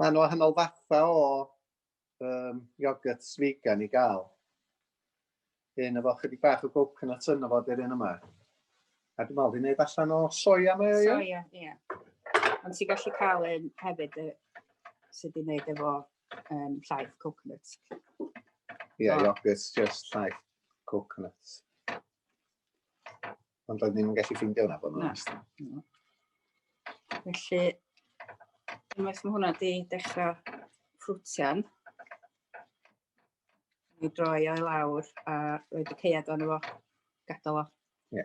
Mae yna wahanol fathau o um, iogurts vegan i gael. Un efo chydig bach o coconut yna fod yr un yma. A dwi'n meddwl, fi'n neud allan o soia mae o, ie? Soia, ie. Yeah. Ond ti'n gallu cael un hefyd y, sydd wedi gwneud efo um, llaeth coconut. Ie, yeah, oh. iogurts, just llaeth coconut. Ond roedd ni'n gallu ffeindio hwnna bod nhw'n ystod. Felly, unwaith mae hwnna wedi dechrau ffrwtian, mi droi o'i lawr a roed y ceiad o'n efo gadael o. Ie.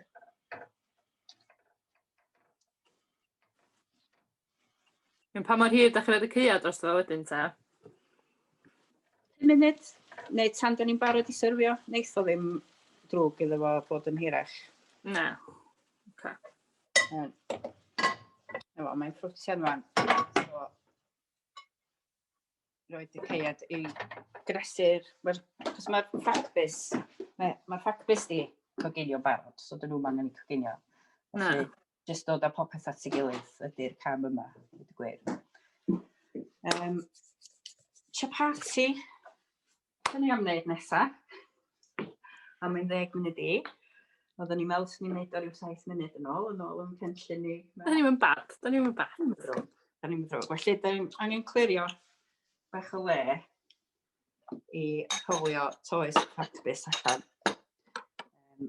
Pa mor hir 'da chi'n roid y caead drosto fo wedyn ta? Pum munud, neu tan 'da ni'n barod i syrfio, neith o ddim drwg iddo fo bod yn hirach. Na. Oce. Iawn. Na fo, mae'n ffrwtian rwan. So, roed y caead i gresur, mae'r, cos mae'r ffacbus, mae'r mae ffacbus di coginio barod, so dyn nhw'n angen i coginio. Na. Felly, jyst dod â popeth at ei gilydd ydy'r cam yma, dweud y gwir. Um, chapati, dyn ni am wneud nesaf, am ein ddeg munud i. Oedden ni'n meddwl sy'n ni'n neud o rhyw 7 munud yn ôl, yn ôl yn cynllun ni. Da ni'n mynd bad, da ni'n mynd bad. Da ni'n mynd ddrwg, da ni'n mynd ddrwg. Felly, da ni'n angen clirio bach o le i rhywio toes practis allan. Um,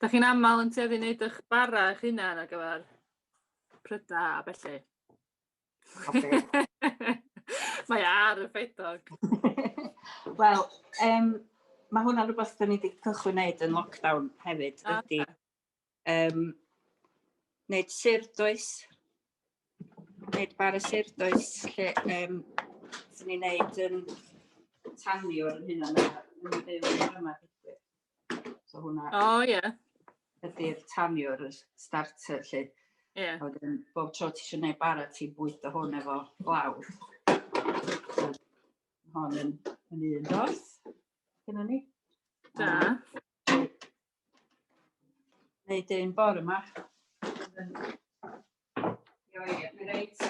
Da chi'n aml yn tueddu wneud eich bara eich hunan ar gyfer prydau a felly. Mae e ar y ffeidog. Wel, um, mae hwnna'n rhywbeth da ni wedi cychwyn wneud yn lockdown hefyd, ah, ydy Yym, nid syrd does, nid bar y syrd does, lle um, sy'n ei wneud yn tanio yn hyn o'n yn byw yn yma. So hwnna... O, oh, ie. Yeah. Ydy'r tanio'r starter, lle. Ie. Yeah. A wedyn, bob tro ti eisiau gwneud bara, ti'n bwyta hwn efo glaw. So, hon yn, yn un dorth, gyda ni. Da. Um, Neud un bore yma. Io ie, mi reit,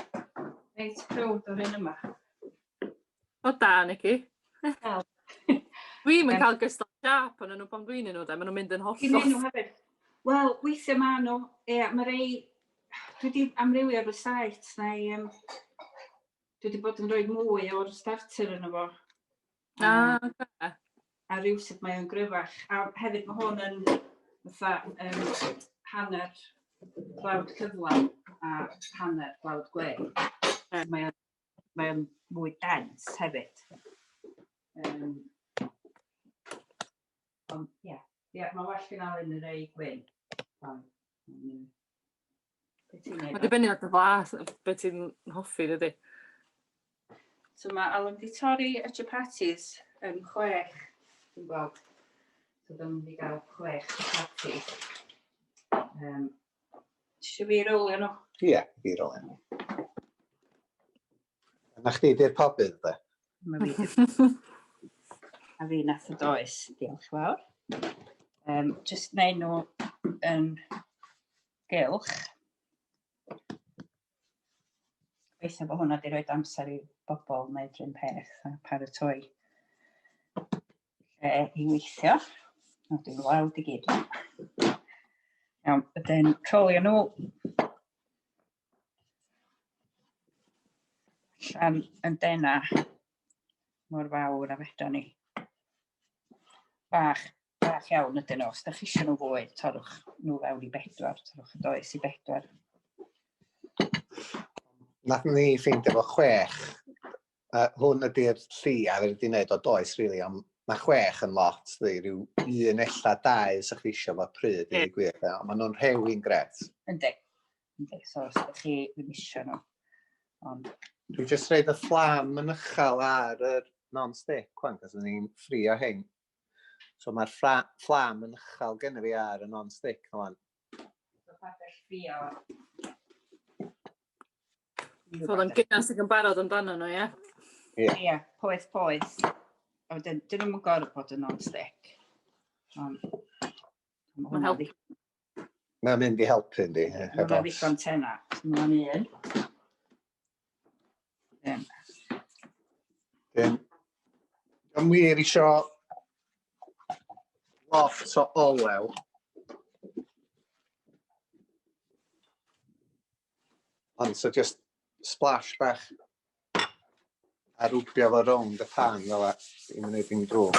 reit prwd o'r un yma. O da, Nicky. Wel. Dwi yn cael gystal siap ond nhw pan dwi'n nhw, da, maen nhw'n mynd yn hollol. Dwi'n nhw hefyd. Wel, weithiau ma nhw, ie, mae rei, dwi wedi amrywio ar y site, neu um, dwi wedi bod yn rhoi mwy o'r starter yn efo. A, um, okay. a rhywsut mae o'n gryfach. A hefyd mae hwn yn fatha um, hanner blawd cyflawn a hanner blawd gwe. Mm. Mae o'n mae o'n mwy dens hefyd. Um, ond ie, yeah. yeah, mae well gen Alun yn ei gwyn. Um, Mae'n dibynnu ar dy flas, beth ti'n hoffi, dydy. So mae Alan di torri y chapatis yn chwech, dwi'n gweld. So dyma ni gael chwech chapati. Um, Tisio fi rolio nhw? Ie, yeah, fi rolio nhw. Na chdi di'r pobydd, de? A fi nath y does, diolch fawr. Um, just neud nhw yn gylch. Gobeithio bod hwnna wedi rhoi amser i bobl wneud rhywun peth a paratoi lle i weithio. O, dwi'n weld i gyd. Iawn, ydyn trolio nhw. Llan yn dena. mor fawr a fedra ni. Bach, bach iawn ydyn nhw. Os ydych chi eisiau nhw fwy, torwch nhw fewn i bedwar, torwch y does i bedwar. Nath ni ffeindio fo chwech. Uh, hwn ydy'r lli a fe wedi wneud o does, rili, really, ond mae chwech yn lot, dwi, rhyw un ella dau sy'ch chi eisiau fo pryd, i gwir, ond maen nhw'n rhewyn gret. Ynddi. Yndi, so os ydych chi ddim eisiau nhw. Ond... Dwi'n just reid y fflam yn uchel ar y non-stick, cwan, cos ni'n ffrio hyn. So mae'r fflam yn uchel gen i fi ar y non-stick, cwan. So pa bell ffrio? So oedd o'n gynas ag yn barod amdano nhw, ie? Ie. Ie, poeth, poeth. A wedyn, dyn nhw'n gorfod bod yn non-stick. Mae'n helpu. Mae'n mynd i helpu yndi. Mae'n ddigon tena. Mae'n un. Dim. Dim. Am wir isio lot o olew. Ond so just splash bach a rwbio fo rownd y pan fel a i'n mynd i'n drwg.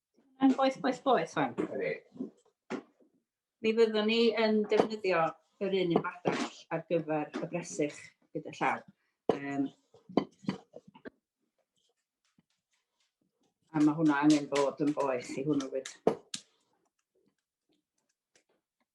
Yn boeth, boeth, boeth fan. Mi fyddwn ni yn defnyddio yr un un badell ar gyfer y bresych gyda llaw. Um, a mae hwnna angen bod yn boeth i hwnnw wyd.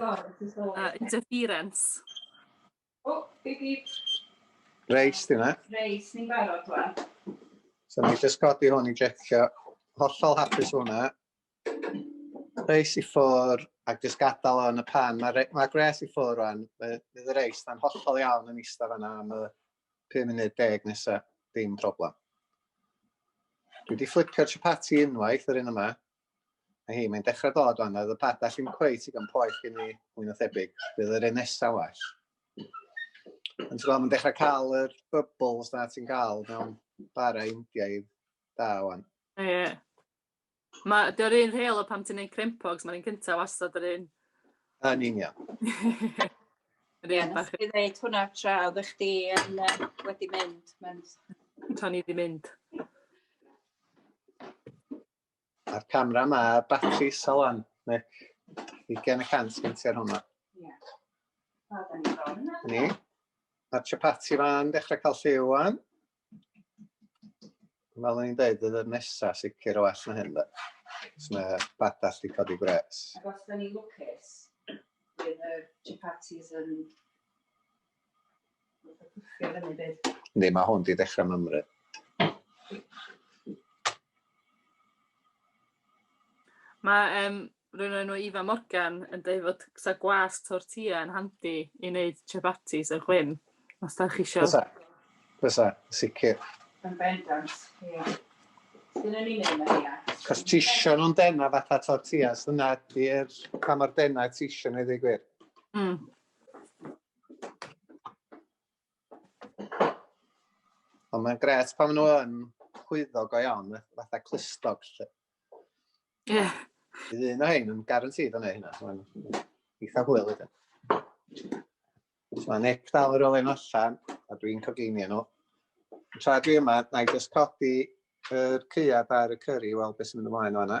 uh, interference. O, big big. Reis, di na? Reis, ni'n barod rwan. So ni'n just codi hwn i jecio. Hollol hapus hwnna. Reis i ffwr, ac just gadael o'n y pan. Mae ma Gres i ffwr rwan. Fydd y reis, da'n hollol iawn yn eistedd fanna am y 5 munud deg nesaf. Dim problem. Dwi wedi fflipio'r chapati unwaith yr un yma. Mae hi, mae'n dechrau dod o'n, oedd y padall ddim cweit i gan poeth gen i, mwy na thebyg. Bydd yr un nesaf well. Ond ti'n mae'n dechrau cael yr bubbles na ti'n cael mewn bara Indiaidd da o'n. Ie. Yeah. Mae, dy'r un rheol o pam ti'n neud crempogs, mae'n un cyntaf wastad yr un. Yn union. Ie, nes i ddeud hwnna tra oedd eich di yn, uh, wedi mynd. Tra ni wedi mynd. A'r camera ma, a'r batri isal lan. Ne, i gen y cant gen ti ar hwnna. Ie. Wel, da ni bron yna. Ni. Mae'r chapati fan dechrau cael lliw wan. Fel o'n i'n dweud, ydy'r nesa sicr o well na hyn, da. Os mae badall di codi gwres. Ac os da ni lwcus, bydd y chapatis yn Ffio fyny byd. Yndi, mae hwn di dechrau mymru. Mae um, rhywun enw Ifa Morgan yn dweud fod sa gwas tortilla yn handi i wneud chapatis a chwyn, os da chi eisiau. Fysa, fysa, sicr. Yn bendant, ie. Yeah. Dyna ni'n ei wneud, ia. Cos ti eisiau nhw'n dena fatha tortillas, dyna di'r pa mor dena ti eisiau nhw i ddigwyr. Mm. Ond mae'n gret pan maen nhw yn chwyddo go iawn, fatha clustog. Ie. Yeah. Bydd un o hyn yn garantid o'n ei hynna. Mae'n eitha hwyl ydyn. Mae Nick dal yr ole'n allan, a dwi'n coginio nhw. Tra dwi yma, na i just codi yr cyad ar y cyrri i weld beth sy'n mynd ymlaen o'na.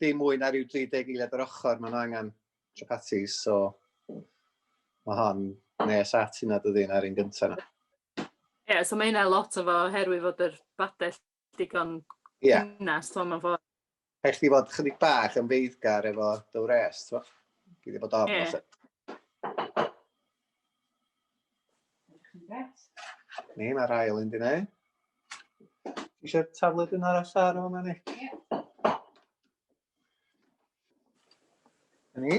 dim mwy na rhyw 30 eiliad yr ochr, maen nhw angen chapatis, so mae hon nes at hynna dydy na'r un gyntaf yna. Ie, yeah, so mae hynna lot o fo herwydd fod yr badell digon yeah. cynnas, to mae'n ffordd. Rhaid chdi fod chydig bach yn feiddgar efo dy wres, to? Gyd i bod ofn, yeah. Ni, mae'r ail un di neu. Eisiau taflu dyn arall ar hwnna ni? Ni.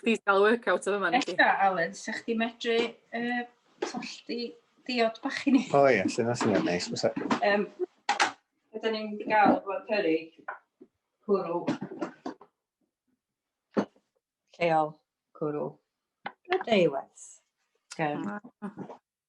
Chdi sy'n cael workout o fyma. Ella, Alun, se chdi medru uh, tollti diod bach i ni? O oh, ie, yeah, sy'n asyn ni'n neis. Um, Ydyn ni'n mynd i gael o'r perig cwrw. Lleol cwrw. Gadeiwes. Um,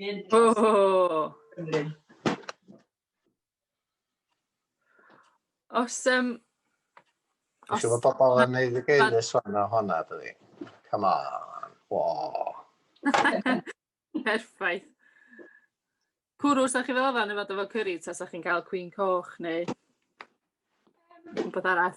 Hyn. Oh. Os, um, Os yw bobl yn neud y geirus fan o hwnna, dydi? Come on. Wow. Perffaith. Cwrw, sa chi fel fan efo efo curry, ta sa chi'n cael cwyn coch neu rhywbeth arall?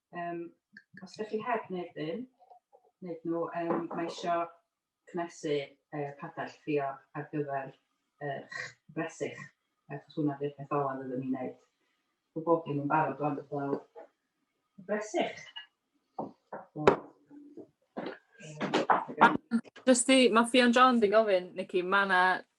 Um, os ydych chi heb wneud hyn, wneud nhw, um, mae eisiau cnesu uh, padell ffrio ar gyfer uh, bresych, achos hwnna di'r peth olaf ydym ni'n gwneud. Mae bob dim yn barod o'n dod lawr. Bresych. Jyst i, mae Ffion John di gofyn, Nicky, mae yna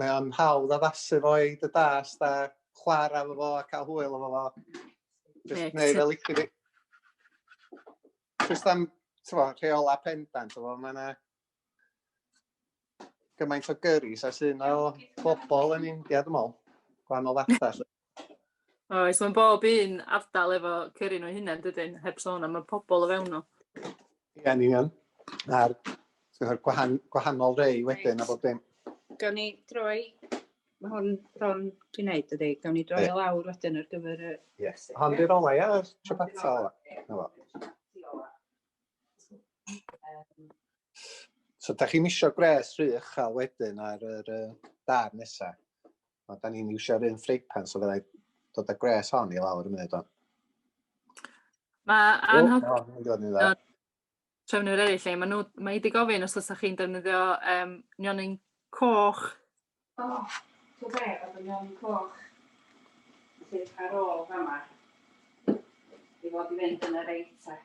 Mae o'n hawdd addasu fo i dy dast a chwarae efo fo a cael hwyl efo fo. Just neu fel licio fi. Just am, ti'n fawr, rheola pendant efo, mae yna gymaint o gyrris a sy'n o bobl yn India, dwi'n meddwl, gwahanol fathau. Oes, mae bob un ardal efo cyrru nhw hynny, dydyn, heb sôn am y pobl o fewn nhw. Ie, yn union. A'r gwahan, gwahanol rei wedyn a bob dim. Gawn ni droi, mae hwn bron ti'n neud, dydy, gawn ni droi o lawr wedyn ar gyfer y... Yes, hon di'r olau, ie, yr trapata ola. Na So, da chi'n misio gwres rhych a wedyn ar yr uh, dar nesaf. O, da ni'n iwsio'r un ffreipan, so fyddai dod â gwres hon i lawr y munud o'n. Mae anhygol trefnwyr eraill lle, mae, nhw, mae wedi gofyn os ydych chi'n defnyddio um, nionyn coch. O, oh, ti'n be, oedd y nionyn coch sydd ar ôl fama i fod i fynd yn yr eita.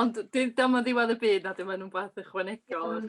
Ond dyma ddiwedd y byd na dyma nhw'n beth ychwanegol.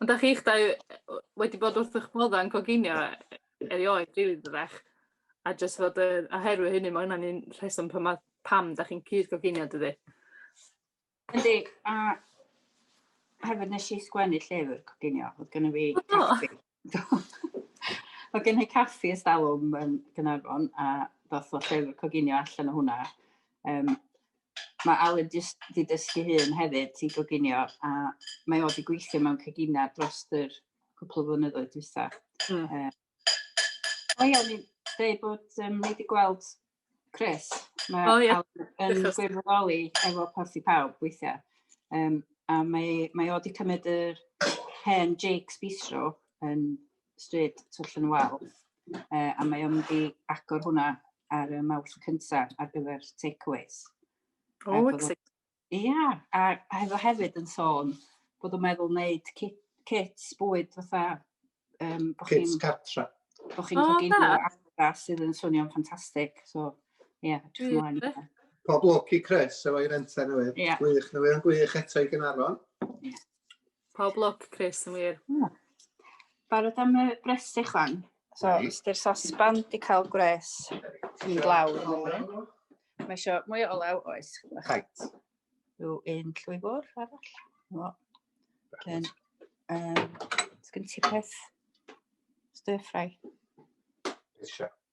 Ond da chi'ch dau wedi bod wrth eich bodda'n coginio erioed rili dydach. A jyst fod y, oherwydd hynny, mae hwnna'n un rheswm pam, pam da chi'n cyd-goginio dydy. Yn deg, a hefyd nes i sgwennu llyfr coginio, oedd gen i fi caffi. oedd gen i caffi ystalwm yn Gynarfon, a doth o llyfr coginio allan o hwnna. Um, Mae Alan jyst wedi dysgu hun hefyd i goginio a mae o wedi gweithio mewn cegina dros yr cwpl o flynyddoedd dwytha. Mm. Uh, O ia, o'n i'n deud bod um, ni wedi gweld Chris. Mae oh, yeah. yn gwirfoddoli efo Parthi Pawb weithiau. Um, a mae, mae o wedi cymryd yr hen Jake's Bistro yn stryd Twll yn Wal. Uh, a mae o'n mynd i agor hwnna ar y mawrth cyntaf ar gyfer takeaways. O, oh, exciting. Ia, a oedd o hefyd yn sôn bod o'n meddwl wneud kit, kits bwyd fatha... Um, bo Kits chi'n cartra. bo chi'n O, coginio da. adra sydd yn swnio'n ffantastig. So, ie, yeah, dwi'n Gwych, ymlaen. gwych. Pob lwc i Chris efo'i renter newydd. Ie. Gwych, newydd yn gwych eto i Gaernarfon. Pob lwc Chris yn wir. Hmm. Barod am y bres i chwan. So, right. ystyr sosban di cael gwres yn glaw. Mae eisiau mwy o olew oes. Right. Rhyw un llwy fwr arall. No. Then, um, sgyn ti peth stir ffrai. Eisiau.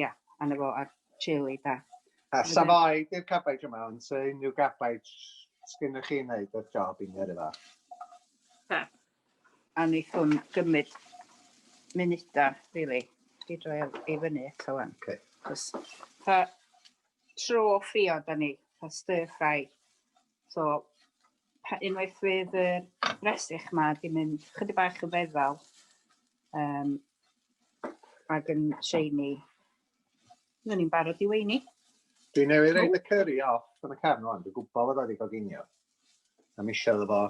Ia, anna fo a'r teulu da. A safai di'r cabaid yma, ond sa unrhyw gabaid sgynnych chi wneud o'r job i mi ar efo? Da. A wnaethwn gymryd munudau, really, i droi i fyny eto wan. Okay. Cos, pa tro ffrio da ni, pa stir ffrai, So, pa, unwaith fydd y bresych ma di mynd chydig bach yn feddal um, ac yn shiny, fydden ni'n barod i weini. Dwi'n newid ein y curry off yn y cefn o'n, dwi'n gwybod fod wedi goginio. A mi eisiau efo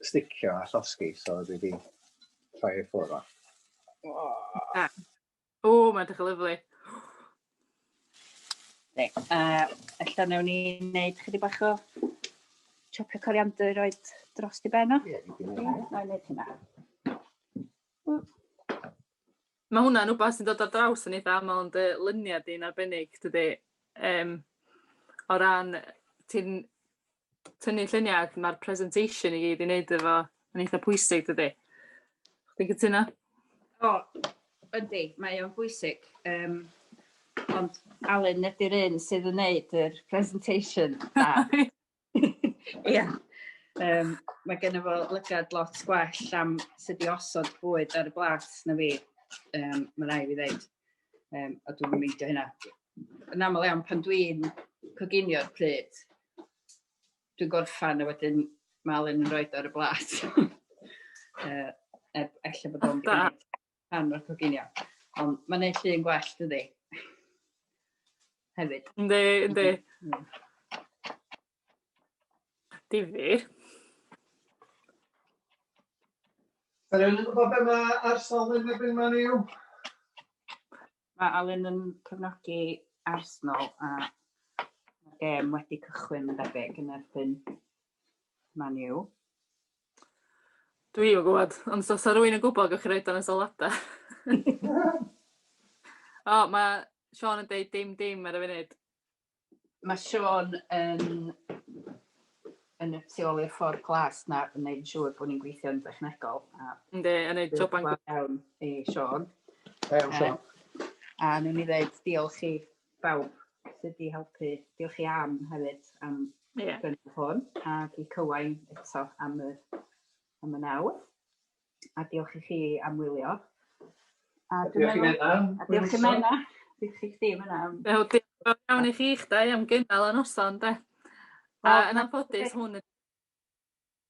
sticio a llosgi, so dwi wedi rhoi ei ffwrdd o. Oh. Ah. O, mae'n edrych yn lyflu. Reit, a ella newn ni wneud chydig bach o chopio coriander i roed dros i ben o. Ie, dwi'n gwneud hynny. Na, wneud hynna. Mae hwnna'n wbath sy'n dod ar draws yn eitha aml yn dy luniau di'n arbennig, dydy? Um, o ran, ti'n tynnu lluniau ac mae'r presentation i gyd i wneud efo yn eitha pwysig dydy. Chi'n cytuno? O, yndi, mae o'n bwysig. Um, ond Alun, nid yw'r un sydd yn wneud yr presentation da. Ia. Um, mae gen i fo lygad lot gwell am sut i osod bwyd ar y blas na fi. Um, mae rai fi ddeud. Um, a dwi'n mynd i hynna. yn aml iawn pan dwi'n coginio'r pryd, dwi'n gorffan a wedyn mae Alun yn rhoi ar y blas. uh, er, efallai bod o'n gwneud pan o'r coginio. Ond mae'n neud llun gwell, dydy? Hefyd. Ynddi, ynddi. Difyr. Rwy'n gwybod beth mae arsal yn erbyn man i'w? Mae Alun yn cefnogi Arsenal a mae'r gêm wedi cychwyn yn debyg yn erbyn Man U. Dwi yn gwybod, ond os oes rwy'n yn gwybod, gwych chi roed o'n y sylwadau. o, mae Sean yn dweud dim dim ar y funud. Mae Siôn yn yn y tu ôl i'r ffordd glas na yn neud siŵr bod ni'n gweithio'n dechnegol. A... Ynddi, yn neud job yn gwaith. Iawn i Siôn. Iawn Siôn. A nhw'n ni ddeud diolch i bawb sydd wedi helpu. Diolch i Am hefyd am yeah. gynnydd hwn ac i Cywain eto am y, am y nawdd. A diolch i chi am wylio. A diolch i Menna. A diolch i Menna. Diolch i chdi Menna. Wel diolch fawr iawn i chi dau am gynnal y noson 'de. A yn anffodus hwn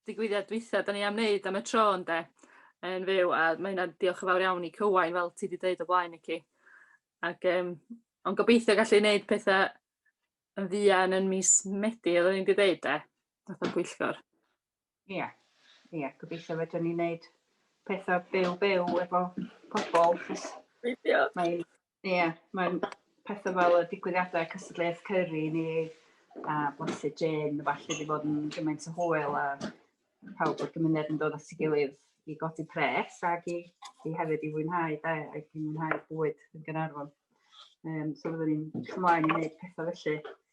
digwyddiad dwytha 'dan ni am neud am y tro ynde? Yn fyw a ma' hynna'n diolch yn fawr iawn i Cywain fel ti 'di deud o blaen Nici. Ag yym ond gobeithio gallu neud petha yn fuan yn mis Medi oddwn i 'di deud 'de? Fatha pwyllgor. Ie, ie, gobeithio fedrwn ni wneud pethau byw byw efo pobl, chos mae'n, ie, yeah, mae'n pethau fel y digwyddiadau cystadleuaeth cyrru ni a blasu gin, falle wedi bod yn gymaint o hwyl a pawb o'r gymuned yn dod at ei gilydd i godi pres ac i, i hefyd i fwynhau da, ac i fwynhau bwyd yn Gynarfon. Um, so fyddwn ni'n chymlaen i wneud pethau felly.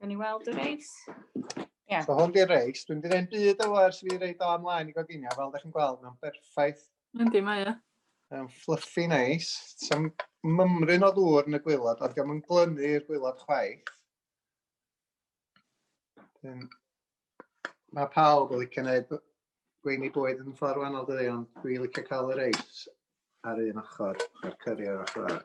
Gawn ni weld y reis. Ie. So hwn di'r reis. Dwi'n mynd i ddeud byd o ers fi reid o amlaen i goginio, fel ydych chi'n gweld, mae'n berffaith. Mae'n di, mae e. Mae'n fluffy neis. Sa'n mymryn o ddŵr yn y gwylod, ond diolch yn glynu i'r gwylod chwaith. Dyn, mae pawb yn licio gwneud gweini bwyd yn ffordd wahanol dydy, ond dwi'n licio cael y reis ar un ochr a'r cyrri ar ochr arall.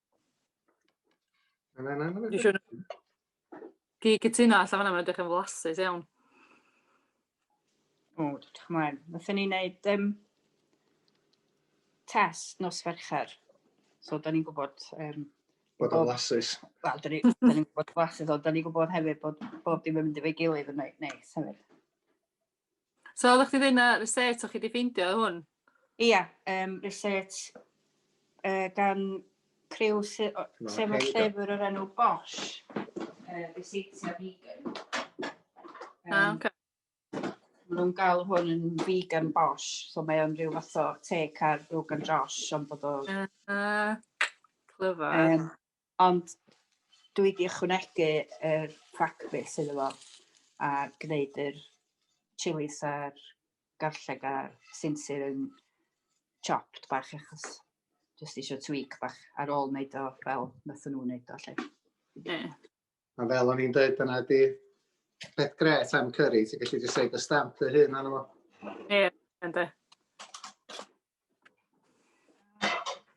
Na, na, na, na. Dwi siŵr... Di cytuno allan fanna, mae'n edrych yn flasus iawn. O, dwi'n mlaen. Nothen ni wneud um, test nos fercher. So, da ni'n gwybod... Um, bod o'n flasus. Wel, da ni'n ni gwybod flasus, ond da ni'n gwybod hefyd bod bob dim yn mynd i fe gilydd yn neis hefyd. So oeddech chdi ddeud na research o chi wedi ffeindio hwn? Ia, um, research uh, gan criw se sef y llyfr o'r enw Bosch, uh, Researchia Vegan. Um, ah, okay. Mae nhw'n gael hwn yn vegan Bosch, so mae o'n rhyw fath o take ar Rogan Josh, ond bod o... Uh, uh, clyfar. Um, Ond dwi 'di ychwanegu yr pracfis iddo fo a gneud yr chilis a'r garlleg a sinsir yn chopped bach achos jyst isio tweak bach ar ôl wneud o fel nathon nhw'n neud o 'lly. Ie. A fel o'n i'n dweud, dyna di peth gret am curry, ti'n gallu jyst rhoi dy stamp dy hun arno fo. Ie, yndw.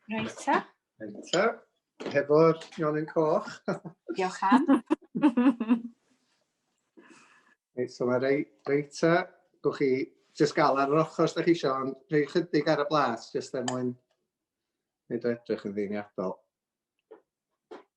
Reit ta. Reit ta. Hefo'r nionyn coch. Diolch am. Reit, so mae rei, reit ta. Gwch chi jyst gael ar yr ochr os da chi eisiau, ond rhoi chydig ar y blas, jyst er mwyn wneud o edrych yn ddiniadol.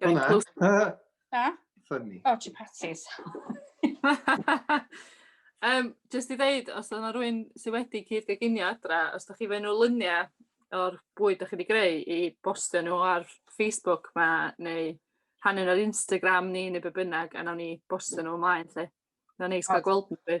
Very Hwna. close. Uh, Na? funny. O, chi patis. um, just i ddeud, os yna rwy'n sydd wedi cyd gyginio adra, os da chi fe nhw lyniau o'r bwyd da chi wedi greu i bostio nhw ar Facebook ma, neu rhannu nhw ar Instagram ni, neu be bynnag, a nawn ni bostio nhw ymlaen, lle. Na neis cael gweld nhw.